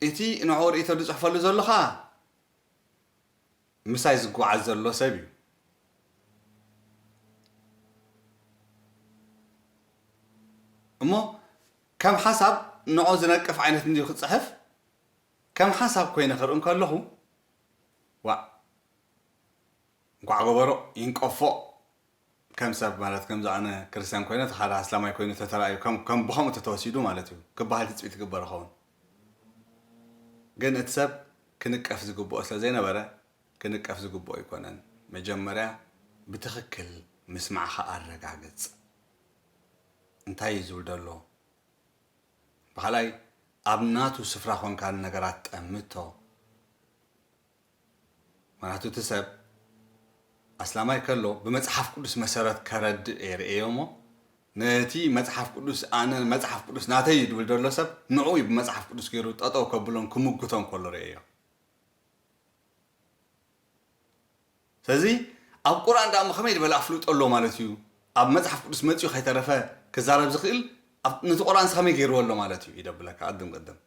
እቲ ንዕኡ ርእይቶ ዝጽሕፈሉ ዘሎ ኸኣ ምሳይ ዝጓዓዝ ዘሎ ሰብ እዩ። እሞ ከም ሓሳብ ንዖ ዝነቅፍ ዓይነት እንድዩ ክጽሕፍ ከም ሓሳብ ኮይነ ክርኢ እንከለኹ ዋእ እንኳዕ ገበሮ ይንቀፎ ከም ሰብ ማለት ከምዚ ኣነ ክርስትያን ኮይነ እቲ ካልእ ኣስላማይ ኮይኑ ተተራእዩ ከም ከም ብከምኡ ተተወሲዱ ማለት እዩ ክበሃል ትጽቢት ይግበር ይኸውን ግን እቲ ሰብ ክንቀፍ ዝግብኦ ስለ ዘይነበረ ክንቀፍ ዝግብኦ ኣይኮነን መጀመርያ ብትኽክል ምስማዕኻ ኣረጋግጽ። እንታይ እዩ ዝብል ደሎ ብኻልኣይ ኣብ ናቱ ስፍራ ኮንካ ንነገራት ጠምቶ ምክንያቱ እቲ ሰብ ኣስላማይ ከሎ ብመጽሓፍ ቅዱስ መሰረት ከረድእ እየ ርእዮ እሞ ነቲ መጽሓፍ ቅዱስ ኣነ መጽሓፍ ቅዱስ ናተይ እዩ ድብል ደሎ ሰብ ንዑ እዩ ብመጽሓፍ ቅዱስ ገይሩ ጠጠው ከብሎን ክምጉቶን ከሎ ርእዮ ስለዚ ኣብ ቁርኣን ድኣሞ ከመይ ዝበለ ኣፍልጦ ኣሎ ማለት እዩ ኣብ መጽሓፍ ቅዱስ መጽዩ ከይተረፈ ክዛረብ ዝክእል ኣብ ነቲ ቁርኣንስ ከመይ ገርዎ ኣሎ ማለት እዩ ይደብለካ ቅድም ቅድም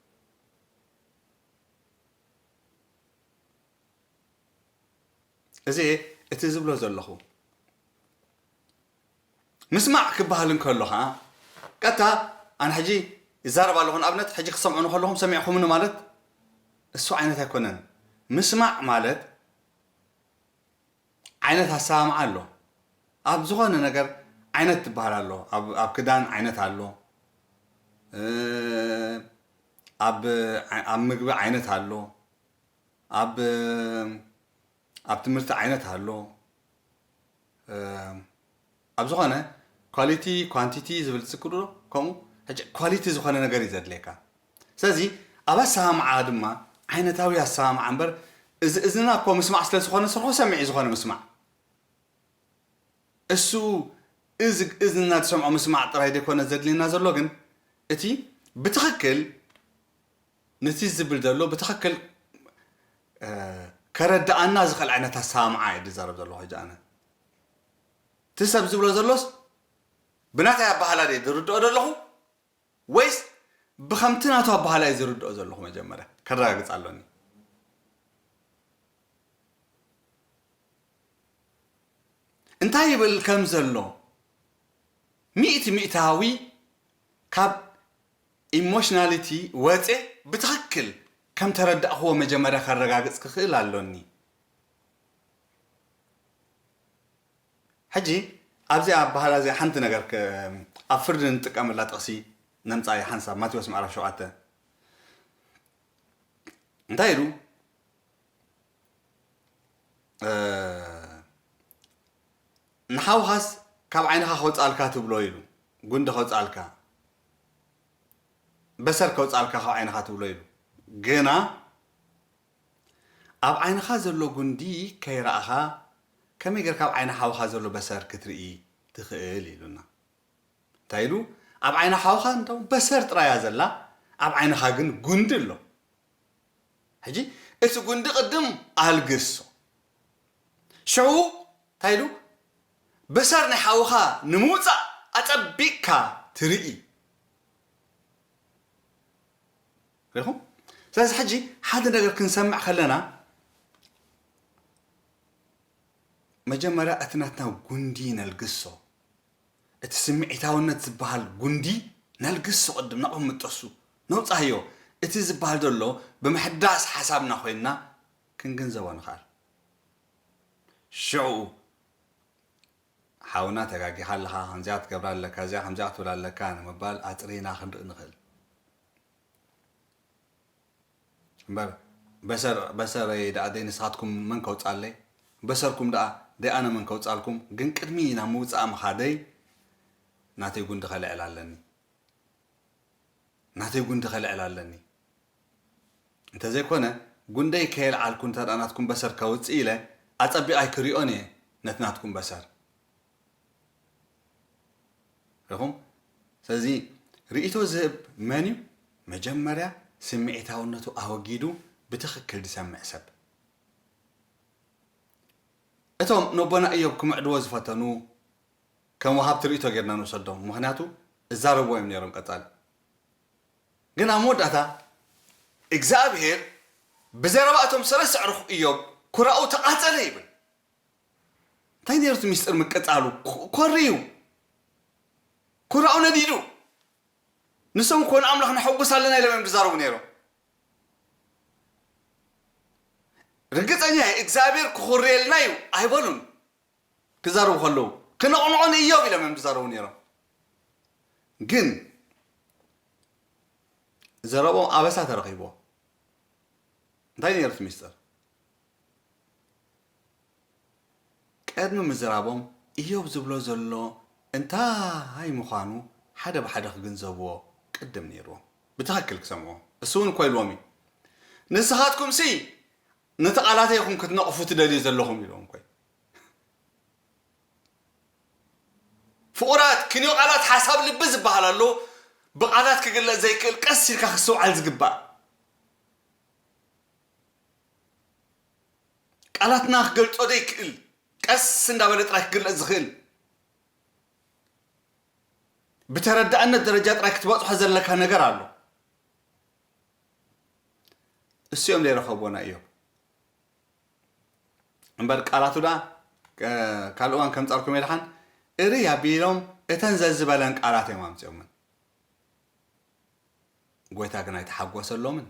እዚ እቲ ዝብሎ ዘለኹ ምስማዕ ክበሃል እንከሎ ከዓ ቀጥታ ኣነ ሕጂ ይዛረብ ኣለኹ ንኣብነት ሕጂ ክሰምዑ ንከለኹም ሰሚዕኹምኒ ማለት እሱ ዓይነት ኣይኮነን ምስማዕ ማለት ዓይነት ኣሰማምዓ ኣሎ ኣብ ዝኮነ ነገር ዓይነት ትበሃል ኣሎ ኣብ ክዳን ዓይነት ኣሎ ኣብ ኣብ ምግቢ ዓይነት ኣሎ ኣብ ኣብ ትምህርቲ ዓይነት ኣሎ ኣብ ዝኾነ ኳሊቲ ኳንቲቲ ዝብል ትጽቅጡ ዶ ከምኡ ሕጂ ኳሊቲ ዝኾነ ነገር እዩ ዘድልየካ ስለዚ ኣብ ኣሰማምዓ ድማ ዓይነታዊ ኣሰማምዓ እምበር እዚ እዝንና እኮ ምስማዕ ስለ ዝኾነ ስርሑ ሰሚዕ እዩ ዝኾነ ምስማዕ እሱ እዚ እዝንና ዝሰምዖ ምስማዕ ጥራይ ዘይኮነ ዘድልየና ዘሎ ግን እቲ ብትኽክል ነቲ ዝብል ዘሎ ብትኽክል ከረድኣና ዝኽእል ዓይነት ኣሰማምዓ እዩ ዝዛረብ ዘለኹ ሕጂ ኣነ እቲ ሰብ ዝብሎ ዘሎስ ብናተይ ኣበሃህላ ድየ ዝርድኦ ዘለኹ ወይስ ብኸምቲ ናቱ ኣበሃህላ እየ ዝርድኦ ዘለኹ መጀመርያ ከረጋግጽ ኣሎኒ። እንታይ ይብል ከም ዘሎ ሚእቲ ሚእታዊ ካብ ኢሞሽናሊቲ ወጼ ብትኽክል ከም ተረዳእኽዎ መጀመርያ ከረጋግጽ ክኽእል ኣሎኒ። ሕጂ ኣብዚኣ ኣበሃህላ እዚኣ ሓንቲ ነገር ኣብ ፍርዲ ንጥቀመላ ጥቕሲ ነምጻ እያ ሓንሳብ ማቴዎስ ምዕራፍ ሸውዓተ እንታይ ኢሉ ንሓውኻስ ካብ ዓይንኻ ከውጻልካ ትብሎ ኢሉ ጉንዲ ከውጻልካ በሰር ከውጻልካ ካብ ዓይንኻ ትብሎ ኢሉ ግና ኣብ ዓይንኻ ዘሎ ጉንዲ ከይረኣኻ ከመይ ጌርካ ኣብ ዓይኒ ሓውኻ ዘሎ በሰር ክትርኢ ትኽእል ኢሉና። እንታይ ኢሉ ኣብ ዓይኒ ሓውኻ እንታው በሰር ጥራይ እያ ዘላ ኣብ ዓይንኻ ግን ጉንዲ ኣሎ። ሕጂ እቲ ጉንዲ ቅድም ኣልግሶ ሽዑ እንታይ ኢሉ በሰር ናይ ሓውኻ ንምውጻእ ኣጸቢቕካ ትርኢ። ሪኢኹም ስለዚ ሕጂ ሓደ ነገር ክንሰምዕ ከለና መጀመርያ እቲ ናትና ጉንዲ ነልግሶ እቲ ስምዒታውነት ዝበሃል ጉንዲ ነልግሶ ቅድም ናብኡ ምጠሱ ነውጻዮ እቲ ዝበሃል ዘሎ ብምሕዳስ ሓሳብና ኮይንና ክንግንዘቦ ንኽኣል ሽዕኡ ሓውና ተጋጊኻ ኣለኻ ከምዚኣ ክትገብራ ኣለካ እዚኣ ከምዚኣ ክትብል ኣለካ ንምባል ኣጽሪና ክንርኢ ንኽእል እምበር በሰር በሰረይ ደኣ ደይ ንስኻትኩም መን ከውጽኣለይ በሰርኩም ደኣ ደይ ኣነ መን ከውጽኣልኩም ግን ቅድሚ ናብ ምውጻኣ ምኻደይ ናተይ ጉንዲ ከልዕል ኣለኒ ናተይ ጉንዲ ከልዕል ኣለኒ እንተዘይኮነ ጉንደይ ከየልዓልኩ እንተ ናትኩም በሰር ከውጽእ ኢለ ኣጸቢቐ ኣይክሪኦን እየ ነቲ ናትኩም በሰር ረኹም ስለዚ ርእይቶ ዝህብ መን እዩ መጀመርያ ስምዒታውነቱ ኣወጊዱ ብትኽክል ዝሰምዕ ሰብ እቶም ነቦና እዮብ ክምዕድዎ ዝፈተኑ ከም ወሃብቲ ርእይቶ ጌርና ንውሰዶም ምክንያቱ እዛረብዎ እዮም ነይሮም ቀጻሊ ግን ኣብ መወዳእታ እግዚኣብሄር ብዘረባ እቶም ሰለስተ ኣዕሩኽ እዮብ ኩራኡ ተቓጸለ ይብል እንታይ ነይሩ እቲ ሚስጥር ምቅጻሉ? ኮርዩ ኩራኡ ነዲዱ ንሶም እኮ ንኣምላኽ ነሐጉስ ኣለና ኢሎም እዮም ዝዛረቡ ነይሮም። ርግጸኛ እየ እግዚኣብሔር ክኹርየልና እዩ ኣይበሉን ክዛረቡ ከለዉ ክነቕንዖ ንእዮብ ኢሎም እዮም ዝዛረቡ ነይሮም። ግን ዘረቦም ኣበሳ ተረኺብዎ እንታይ ነይሩ እቲ ሚስጥር? ቀድሚ ምዝራቦም እዮብ ዝብሎ ዘሎ እንታይ ምዃኑ ሓደ ብሓደ ክግንዘብዎ ቅድም ነይርዎም ብትኸክል ክሰምዕዎ። እሱ እውን እኮ ኢልዎም እዩ ንስኻትኩምሲ ነቲ ቃላተይ ኢኹም ክትነቕፉ ትደልዩ ዘለኹም ኢልዎም እኮ እዩ። ፍቑራት ክንዮ ቃላት ሓሳብ ልቢ ዝበሃል ኣሎ ብቃላት ክግለፅ ዘይክእል ቀስ ኢልካ ክስተውዓል ዝግባእ። ቃላትና ክገልጾ ዘይክእል ቀስ እንዳበለ ጥራይ ክግለጽ ዝኽእል ብተረዳእነት ደረጃ ጥራይ ክትበጽሖ ዘለካ ነገር ኣሎ እሱኦም ዘይረኸብዎና እዮም እምበር ቃላቱ ዳ ካልእ እዋን ከምጻልኩም የድሓን እርይ ኣቢሎም እተን ዘዝበለን ቃላት እዮም ኣምፅኦምን ጎይታ ግን ኣይተሓጎሰሎምን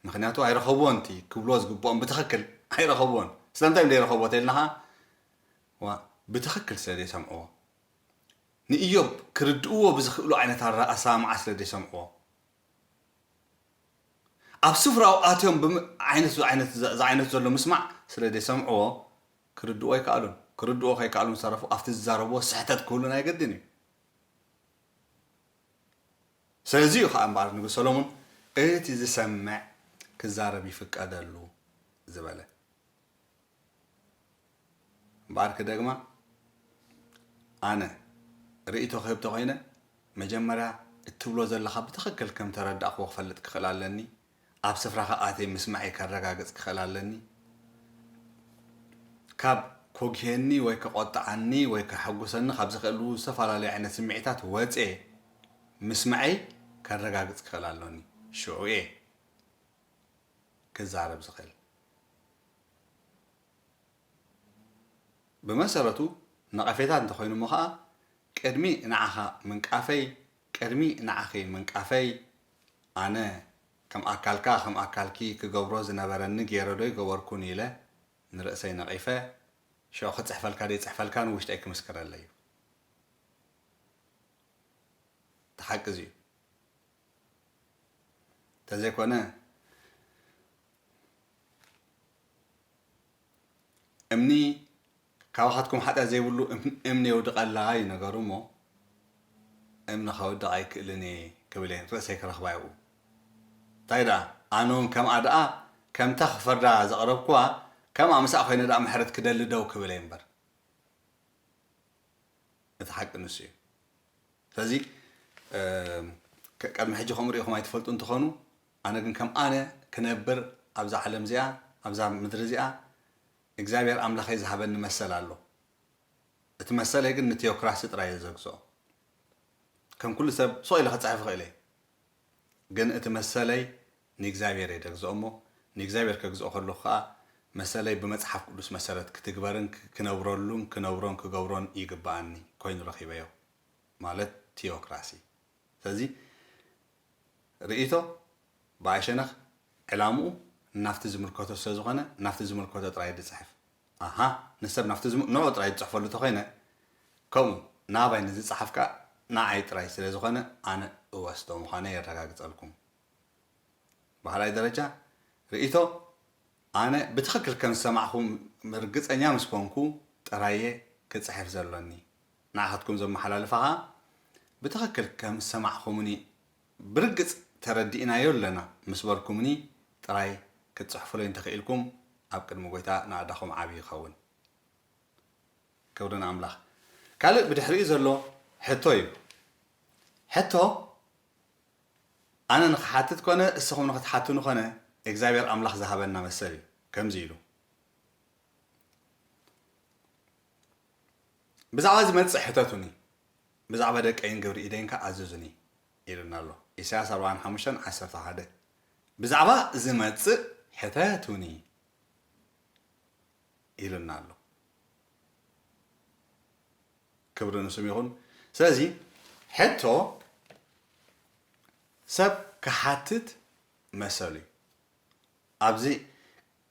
ምኽንያቱ ኣይረኸብዎን እቲ ክብልዎ ዝግብኦም ብትኽክል ኣይረኸብዎን ስለምንታይ እዮም ዘይረኸብዎ ተይልና ኸኣ ዋእ ብትኽክል ስለ ዘይሰምዕዎ ንእዮብ ክርድእዎ ብዝኽእሉ ዓይነት ኣረ ኣሰማምዓ ስለ ዘይሰምዕዎ ኣብ ስፍራኡ ኣትዮም ብም ዓይነት ዝዓይነት ዝዓይነቱ ዘሎ ምስማዕ ስለ ዘይሰምዕዎ ክርድእዎ ኣይከኣሉን ክርድእዎ ከይከኣሉ ዝተረፉ ኣብቲ ዝዛረብዎ ስሕተት ክህሉን ኣይገድን እዩ ስለዚ እዩ ኸኣ እምበኣር ንጉስ ሰሎሞን እቲ ዚሰምዕ ኪዛረብ ይፍቀደሉ ዝበለ። እምበኣር ክደግማ፣ ኣነ ርእይቶ ክህብ ተኾይነ፣ መጀመርያ እትብሎ ዘለኻ ብትኽክል ከም እተረዳእክዎ ክፈልጥ ክኽእል ኣለኒ፣ ኣብ ስፍራኻ ኣትየ ምስማዐይ ከረጋግጽ ክኽእል ኣለኒ። ካብ ኮግሄኒ ወይ ከቖጥዓኒ ወይ ከሐጉሰኒ ካብ ዘኽእሉ ዝተፈላለዩ ዓይነት ስምዒታት ወጽየ ምስማዐይ ከረጋግጽ ክኽእል ኣሎኒ። ሽዑ'የ ክዛረብ ዝኽእል። ብመሰረቱ ነቐፌታ እንተኾይኑ'ሞ ከኣ ቅድሚ ንዓኻ ምንቃፈይ ቅድሚ ንዓኺ ምንቃፈይ ኣነ ከም ኣካልካ ከም ኣካልኪ ክገብሮ ዝነበረኒ ጌረ ዶ ኣይገበርኩን ኢለ ንርእሰይ ነቒፈ ሽዑ ክጽሕፈልካ ደይጽሕፈልካን ውሽጠይ ክምስክረለይ'ዩ። እቲ ሓቂ እዚ'ዩ። እንተዘይኮነ እምኒ ካባኻትኩም ሓጢኣት ዘይብሉ እምኒ የውድቐላ እዩ ነገሩ እሞ እምኒ ከውድቕ ኣይክእልን እየ ክብል እየ ርእሰይ ክረኽባ ይብኡ እንታይ ደኣ ኣነውን ከምኣ ደኣ ከምታ ክፈርዳ ዘቕረብኩዋ ከምኣ ምስኣ ኮይነ ደኣ ምሕረት ክደሊ ደው ክብል እየ እምበር እቲ ሓቂ ንሱ እዩ ስለዚ ቀድሚ ሕጂ ከምኡ ሪኢኹም ኣይትፈልጡ እንትኾኑ ኣነ ግን ከም ኣነ ክነብር ኣብዛ ዓለም እዚኣ ኣብዛ ምድሪ እዚኣ እግዚኣብሔር ኣምላኸይ ዝሃበኒ መሰል ኣሎ እቲ መሰለይ ግን ንቲዮክራሲ ጥራይ እየ ዘግዝኦ ከም ኩሉ ሰብ ሱቕ ኢለ ክጽሕፍ ይኽእል እየ ግን እቲ መሰለይ ንእግዚኣብሔር እየ ደግዝኦ እሞ ንእግዚኣብሔር ከግዝኦ ከለኹ ከኣ መሰለይ ብመጽሓፍ ቅዱስ መሰረት ክትግበርን ክነብረሉን ክነብሮን ክገብሮን ይግብኣኒ ኮይኑ ረኺበዮ ማለት ቲዮክራሲ ስለዚ ርእይቶ ብኣይ ሸነኽ ዕላምኡ ናብቲ ዝምልከቶ ስለዝኾነ ናብቲ ዝምልከቶ ጥራይ ድጽሕፍ። ኣሃ ንሰብ ናብቲ ዝም ንዑ ጥራይ ድጽሕፈሉ ተኾይነ ከምኡ ናባይ ንዝጸሓፍ ከኣ ንዓይ ጥራይ ስለዝኾነ ኣነ እወስዶ ምዃነይ የረጋግጸልኩም። ብኻልኣይ ደረጃ ርእይቶ ኣነ ብትኽክል ከምዝሰማዕኹም ርግጸኛ ምስኮንኩ ጥራይ'የ ክጽሕፍ ዘሎኒ። ንዓኻትኩም ዘመሓላልፋ ከኣ ብትኽክል ከም ዝሰማዕኩምኒ ብርግጽ ተረዲእናዮ ኣለና ምስ በልኩምኒ ጥራይ ክትጽሕፉለይ እንተ ኽኢልኩም ኣብ ቅድሚ ጐይታ ናእዳኹም ዓቢ ይኸውን። ክብሪ ንኣምላኽ። ካልእ ብድሕሪኡ ዘሎ ሕቶ እዩ። ሕቶ ኣነ ንኽሓትት ኰነ እስኹም ንኽትሓቱኒ ኰነ እግዚኣብሔር ኣምላኽ ዝሃበና መሰል እዩ። ከምዚ ኢሉ። ብዛዕባ ዝመጽእ ሕተቱኒ፣ ብዛዕባ ደቀይን ግብሪ ኢደይን ከኣ ኣዘዙኒ ኢሉና ኣሎ፣ ኢሳያስ ኣርባዓን ሓሙሽተን ዓሰርተ ሓደ። ብዛዕባ ዝመጽእ ሕተቱኒ ኢሉና ኣሎ። ክብሪ ንስም ይኹን። ስለዚ ሕቶ ሰብ ክሓትት መሰሉ እዩ። ኣብዚ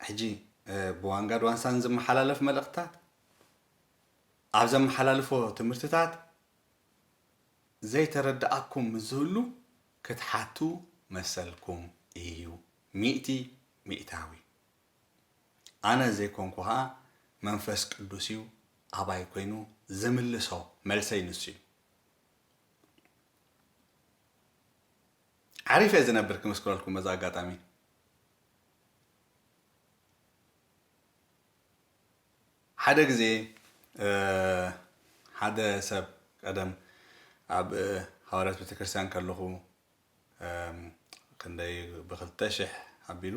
ሕጂ ብዋንጋድ ዋንሳን ዝመሓላለፍ መልእኽትታት ኣብ ዘመሓላልፎ ትምህርትታት ዘይተረደኣኩም ምስ ዝህሉ ክትሓቱ መሰልኩም ኢዩ ሚእቲ ሚእታዊ። ኣነ ዘይኮንኩ ከኣ መንፈስ ቅዱስ ኢዩ ኣባይ ኮይኑ ዝምልሶ መልሰይ ንሱ ኢዩ። ዓሪፈ እየ ዝነብር ክምስክረልኩም በዚ ኣጋጣሚ። ሓደ ግዜ ሓደ ሰብ ቀደም ኣብ ሃዋርያት ቤተክርስትያን ከለኹ ክንደይ ብክልተ ሽሕ ኣቢሉ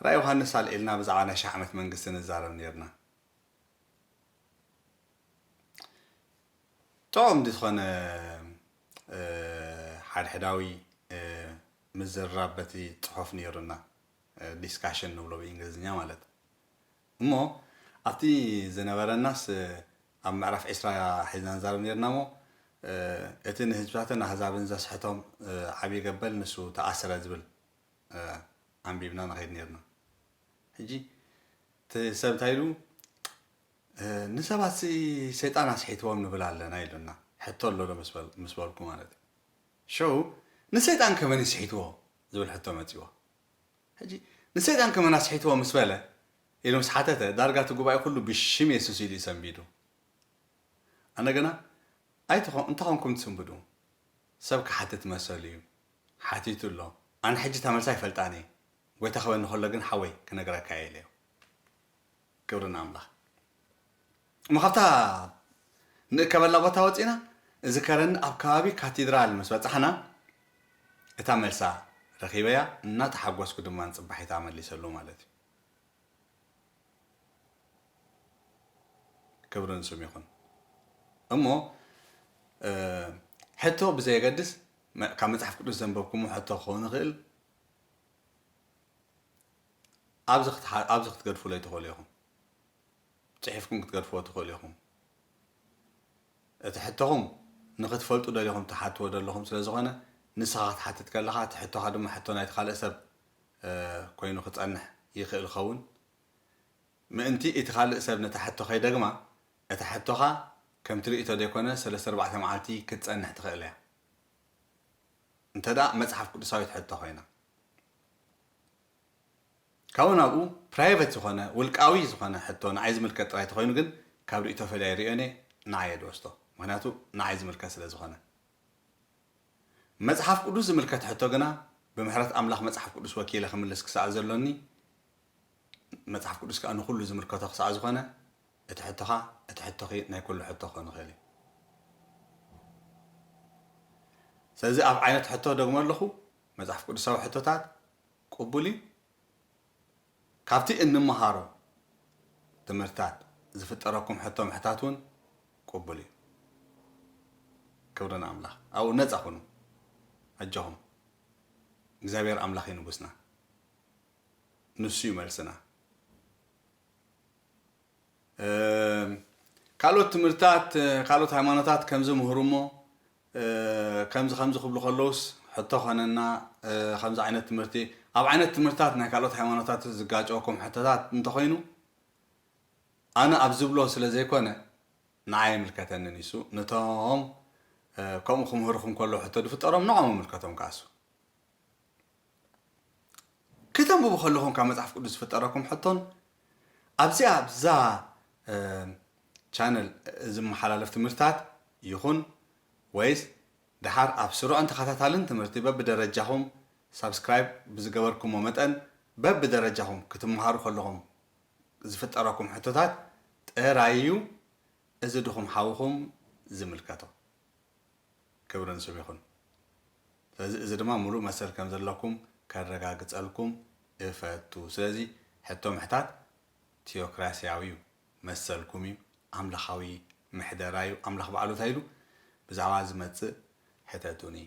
ራእይ ዮሃንስ ኣልዒልና ብዛዕባ ናይ ሽሕ ዓመት መንግስቲ ንዛረብ ነርና ጥዑም ዝኾነ ሓድሕዳዊ ምዝርራብ በቲ ጽሑፍ ነይሩና ዲስካሽን ንብሎ ብእንግሊዝኛ ማለት እሞ ኣብቲ ዝነበረናስ ኣብ ምዕራፍ ዕስራ ሒዝና ንዛረብ ኔርና እሞ እቲ ንህዝብታትን ኣህዛብን ዘስሕቶም ዓብዪ ገበል ንሱ ተኣስረ ዝብል ኣንቢብና ንኸይድ ኔርና ሕጂ እቲ ሰብ እንታይ ኢሉ ንሰባትሲ ሰይጣን ኣስሒትዎም ንብል ኣለና ኢሉና ሕቶ ኣሎ ዶ ምስ በልኩ ማለት እዩ ሸው ንሰይጣን ከመን ይስሒትዎ ዝብል ሕቶ መፂዎ ሕጂ ንሰይጣን ከመን ኣስሒትዎ ምስ በለ ኢሉ ምስ ሓተተ ዳርጋ እቲ ጉባኤ ኩሉ ብሽም የሱስ ኢሉ እዩ ሰንቢዱ። ኣነ ግና ኣይትኾ እንታይ ኮንኩም ትስንብዱ ሰብ ክሓትት መሰሉ እዩ ሓቲቱ ኣሎ ኣነ ሕጂ እታ መልሲ ኣይፈልጣን እየ ጎይታ ክበኒ ከሎ ግን ሓወይ ክነግረካ እየ ኢለዮ። ክብሪ ንኣምላኽ እሞ ካብታ ንእከበላ ቦታ ወጺእና እዚ ከረን ኣብ ከባቢ ካቲድራል ምስ በጻሕና እታ መልሳ ረኺበያ እናተሓጎስኩ ድማ ንጽባሒት ኣመሊሰሉ ማለት እዩ ክብሪ ንስም ይኹን እሞ ሕቶ ብዘየገድስ ካብ መጽሓፍ ቅዱስ ዘንበብኩሞ ሕቶ ክኸውን ይኽእል ኣብዚ ክትሓ ኣብዚ ክትገድፉለይ ትኽእሉ ኢኹም። ጽሒፍኩም ክትገድፍዎ ትኽእሉ ኢኹም። እቲ ሕቶኹም ንኽትፈልጡ ደሊኹም ትሓትዎ ደለኹም ስለ ዝኾነ ንስኻ ክትሓትት ከለኻ እቲ ሕቶኻ ድማ ሕቶ ናይቲ ካልእ ሰብ ኮይኑ ክጸንሕ ይኽእል ኸውን ምእንቲ እቲ ካልእ ሰብ ነታ ሕቶ ከይደግማ እታ ሕቶኻ ከምቲ ርእይቶ ዘይኮነ ሰለስተ ኣርባዕተ መዓልቲ ክትጸንሕ ትኽእል እያ እንተ መጽሓፍ ቅዱሳዊት ሕቶ ኮይና ካብኡ ናብኡ ፕራይቨት ዝኾነ ውልቃዊ ዝኾነ ሕቶ ንዓይ ዝምልከት ጥራይ ተኾይኑ ግን ካብ ሪኢቶ ፈልየ ኣይሪኦን እየ ንዓይ እየ ድወስዶ ምኽንያቱ ንዓይ ዝምልከት ስለ ዝኾነ መጽሓፍ ቅዱስ ዝምልከት ሕቶ ግና ብምሕረት ኣምላኽ መጽሓፍ ቅዱስ ወኪለ ክምልስ ክሳዕ ዘሎኒ መጽሓፍ ቅዱስ ከኣ ንኹሉ ዝምልከቶ ክሳዕ ዝኾነ እቲ ሕቶኻ እቲ ሕቶኺ ናይ ኩሉ ሕቶ ክኾን ይኽእል እዩ ስለዚ ኣብ ዓይነት ሕቶ ደግሞ ኣለኹ መጽሓፍ ቅዱሳዊ ሕቶታት ቅቡል እዩ። ካብቲ እንመሃሮ ትምህርትታት ዝፍጠረኩም ሕቶ ምሕታት እውን ቅቡል እዩ። ክብሪ ንኣምላኽ። ኣብኡ ነጻ ኩኑ። ኣጆኹም። እግዚኣብሔር ኣምላኽ እዩ ንጉስና። ንሱ እዩ መልስና። ካልኦት ትምህርትታት ካልኦት ሃይማኖታት ከምዚ ምህሩ እሞ ከምዚ ከምዚ ክብሉ ከለዉስ ሕቶ ኮነና ከምዚ ዓይነት ትምህርቲ ኣብ ዓይነት ትምህርትታት ናይ ካልኦት ሃይማኖታትስ ዝጋጨወኩም ሕቶታት እንተኾይኑ ኣነ ኣብ ዝብሎ ስለ ዘይኮነ ንዓይ ኣይምልከተንን እዩሱ ነቶም ከምኡ ክምህርኹም ከሎ ሕቶ ድፍጠሮም ንዖም ምልከቶም ከኣሱ ክተንብቡ ከለኹም ካብ መጽሓፍ ቅዱስ ዝፍጠረኩም ሕቶን ኣብዚ ኣብዛ ቻነል ዝመሓላለፍ ትምህርታት ይኹን ወይስ ደሓር ኣብ ስሩዕን ተኸታታልን ትምህርቲ በብደረጃኹም ሳብስክራይብ ብዝገበርኩሞ መጠን በብደረጃኹም ክትመሃሩ ከለኹም ዝፍጠረኩም ሕቶታት ጥራይ እዩ እዚ ድኹም ሓውኹም ዝምልከቶ። ክብርን ስብ ይኹን ስለዚ እዚ ድማ ሙሉእ መሰል ከም ዘለኩም ከረጋግጸልኩም እፈቱ ስለዚ ሕቶ ምሕታት ቲዮክራሲያዊ ዩ መሰልኩም ዩ ኣምላኻዊ ምሕደራ ዩ ኣምላኽ ባዕሉ ታይ ኢሉ ብዛዕባ ዝመጽእ ሕተቱኒ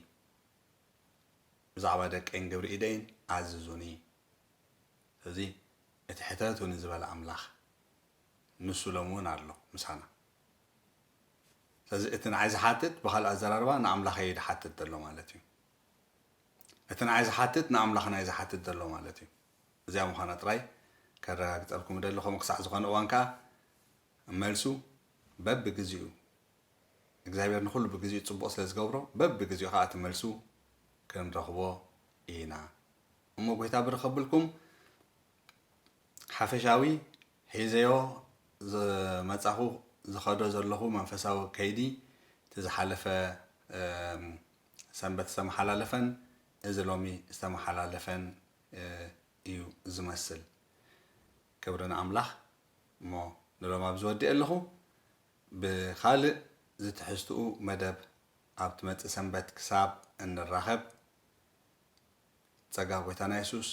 ብዛዕባ ደቀይን ግብሪ ኢደይን ኣዝዙኒ ስለዚ እቲ ሕተቱኒ ዝበለ ኣምላኽ ንሱ ሎሚ ውን ኣሎ ምሳና ስለዚ እቲ ንዓይ ዝሓትት ብኻልእ ኣዘራርባ ንኣምላኸይ እዩ ዝሓትት ዘሎ ማለት እዩ። እቲ ንዓይ ዝሓትት ንኣምላኽና እዩ ዝሓትት ዘሎ ማለት እዩ። እዚኣ ምዃና ጥራይ ከረጋግጸልኩም እደሊ፣ ከምኡ ክሳዕ ዝኾነ እዋን ከኣ መልሱ በብግዜኡ እግዚኣብሔር ንኹሉ ብግዜኡ ጽቡቕ ስለ ዝገብሮ በብግዜኡ ከኣ እቲ መልሱ ክንረኽቦ ኢና እሞ ጐይታ ብርኸብልኩም ሓፈሻዊ ሒዘዮ ዝመጻኹ ዝኸዶ ዘለኹ መንፈሳዊ ከይዲ እቲ ዝሓለፈ ሰንበት ዝተመሓላለፈን እዚ ሎሚ ዝተመሓላለፈን እዩ ዝመስል ክብሪ ንኣምላኽ እሞ ንሎሚ ኣብዚ ወዲኤ ኣለኹ ብኻልእ ዝትሕዝትኡ መደብ ኣብ ትመጽእ ሰንበት ክሳብ እንራኸብ ጸጋ ጎይታና የሱስ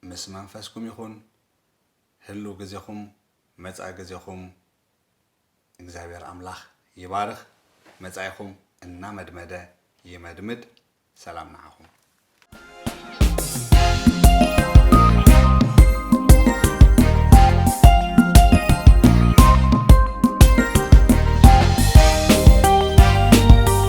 ምስ መንፈስኩም ይኹን ህልው ግዜኹም መጻኢ ግዜኹም እግዚኣብሔር ኣምላኽ ይባርኽ መጻኢኹም እናመድመደ ይመድምድ ሰላም ንዓኹም።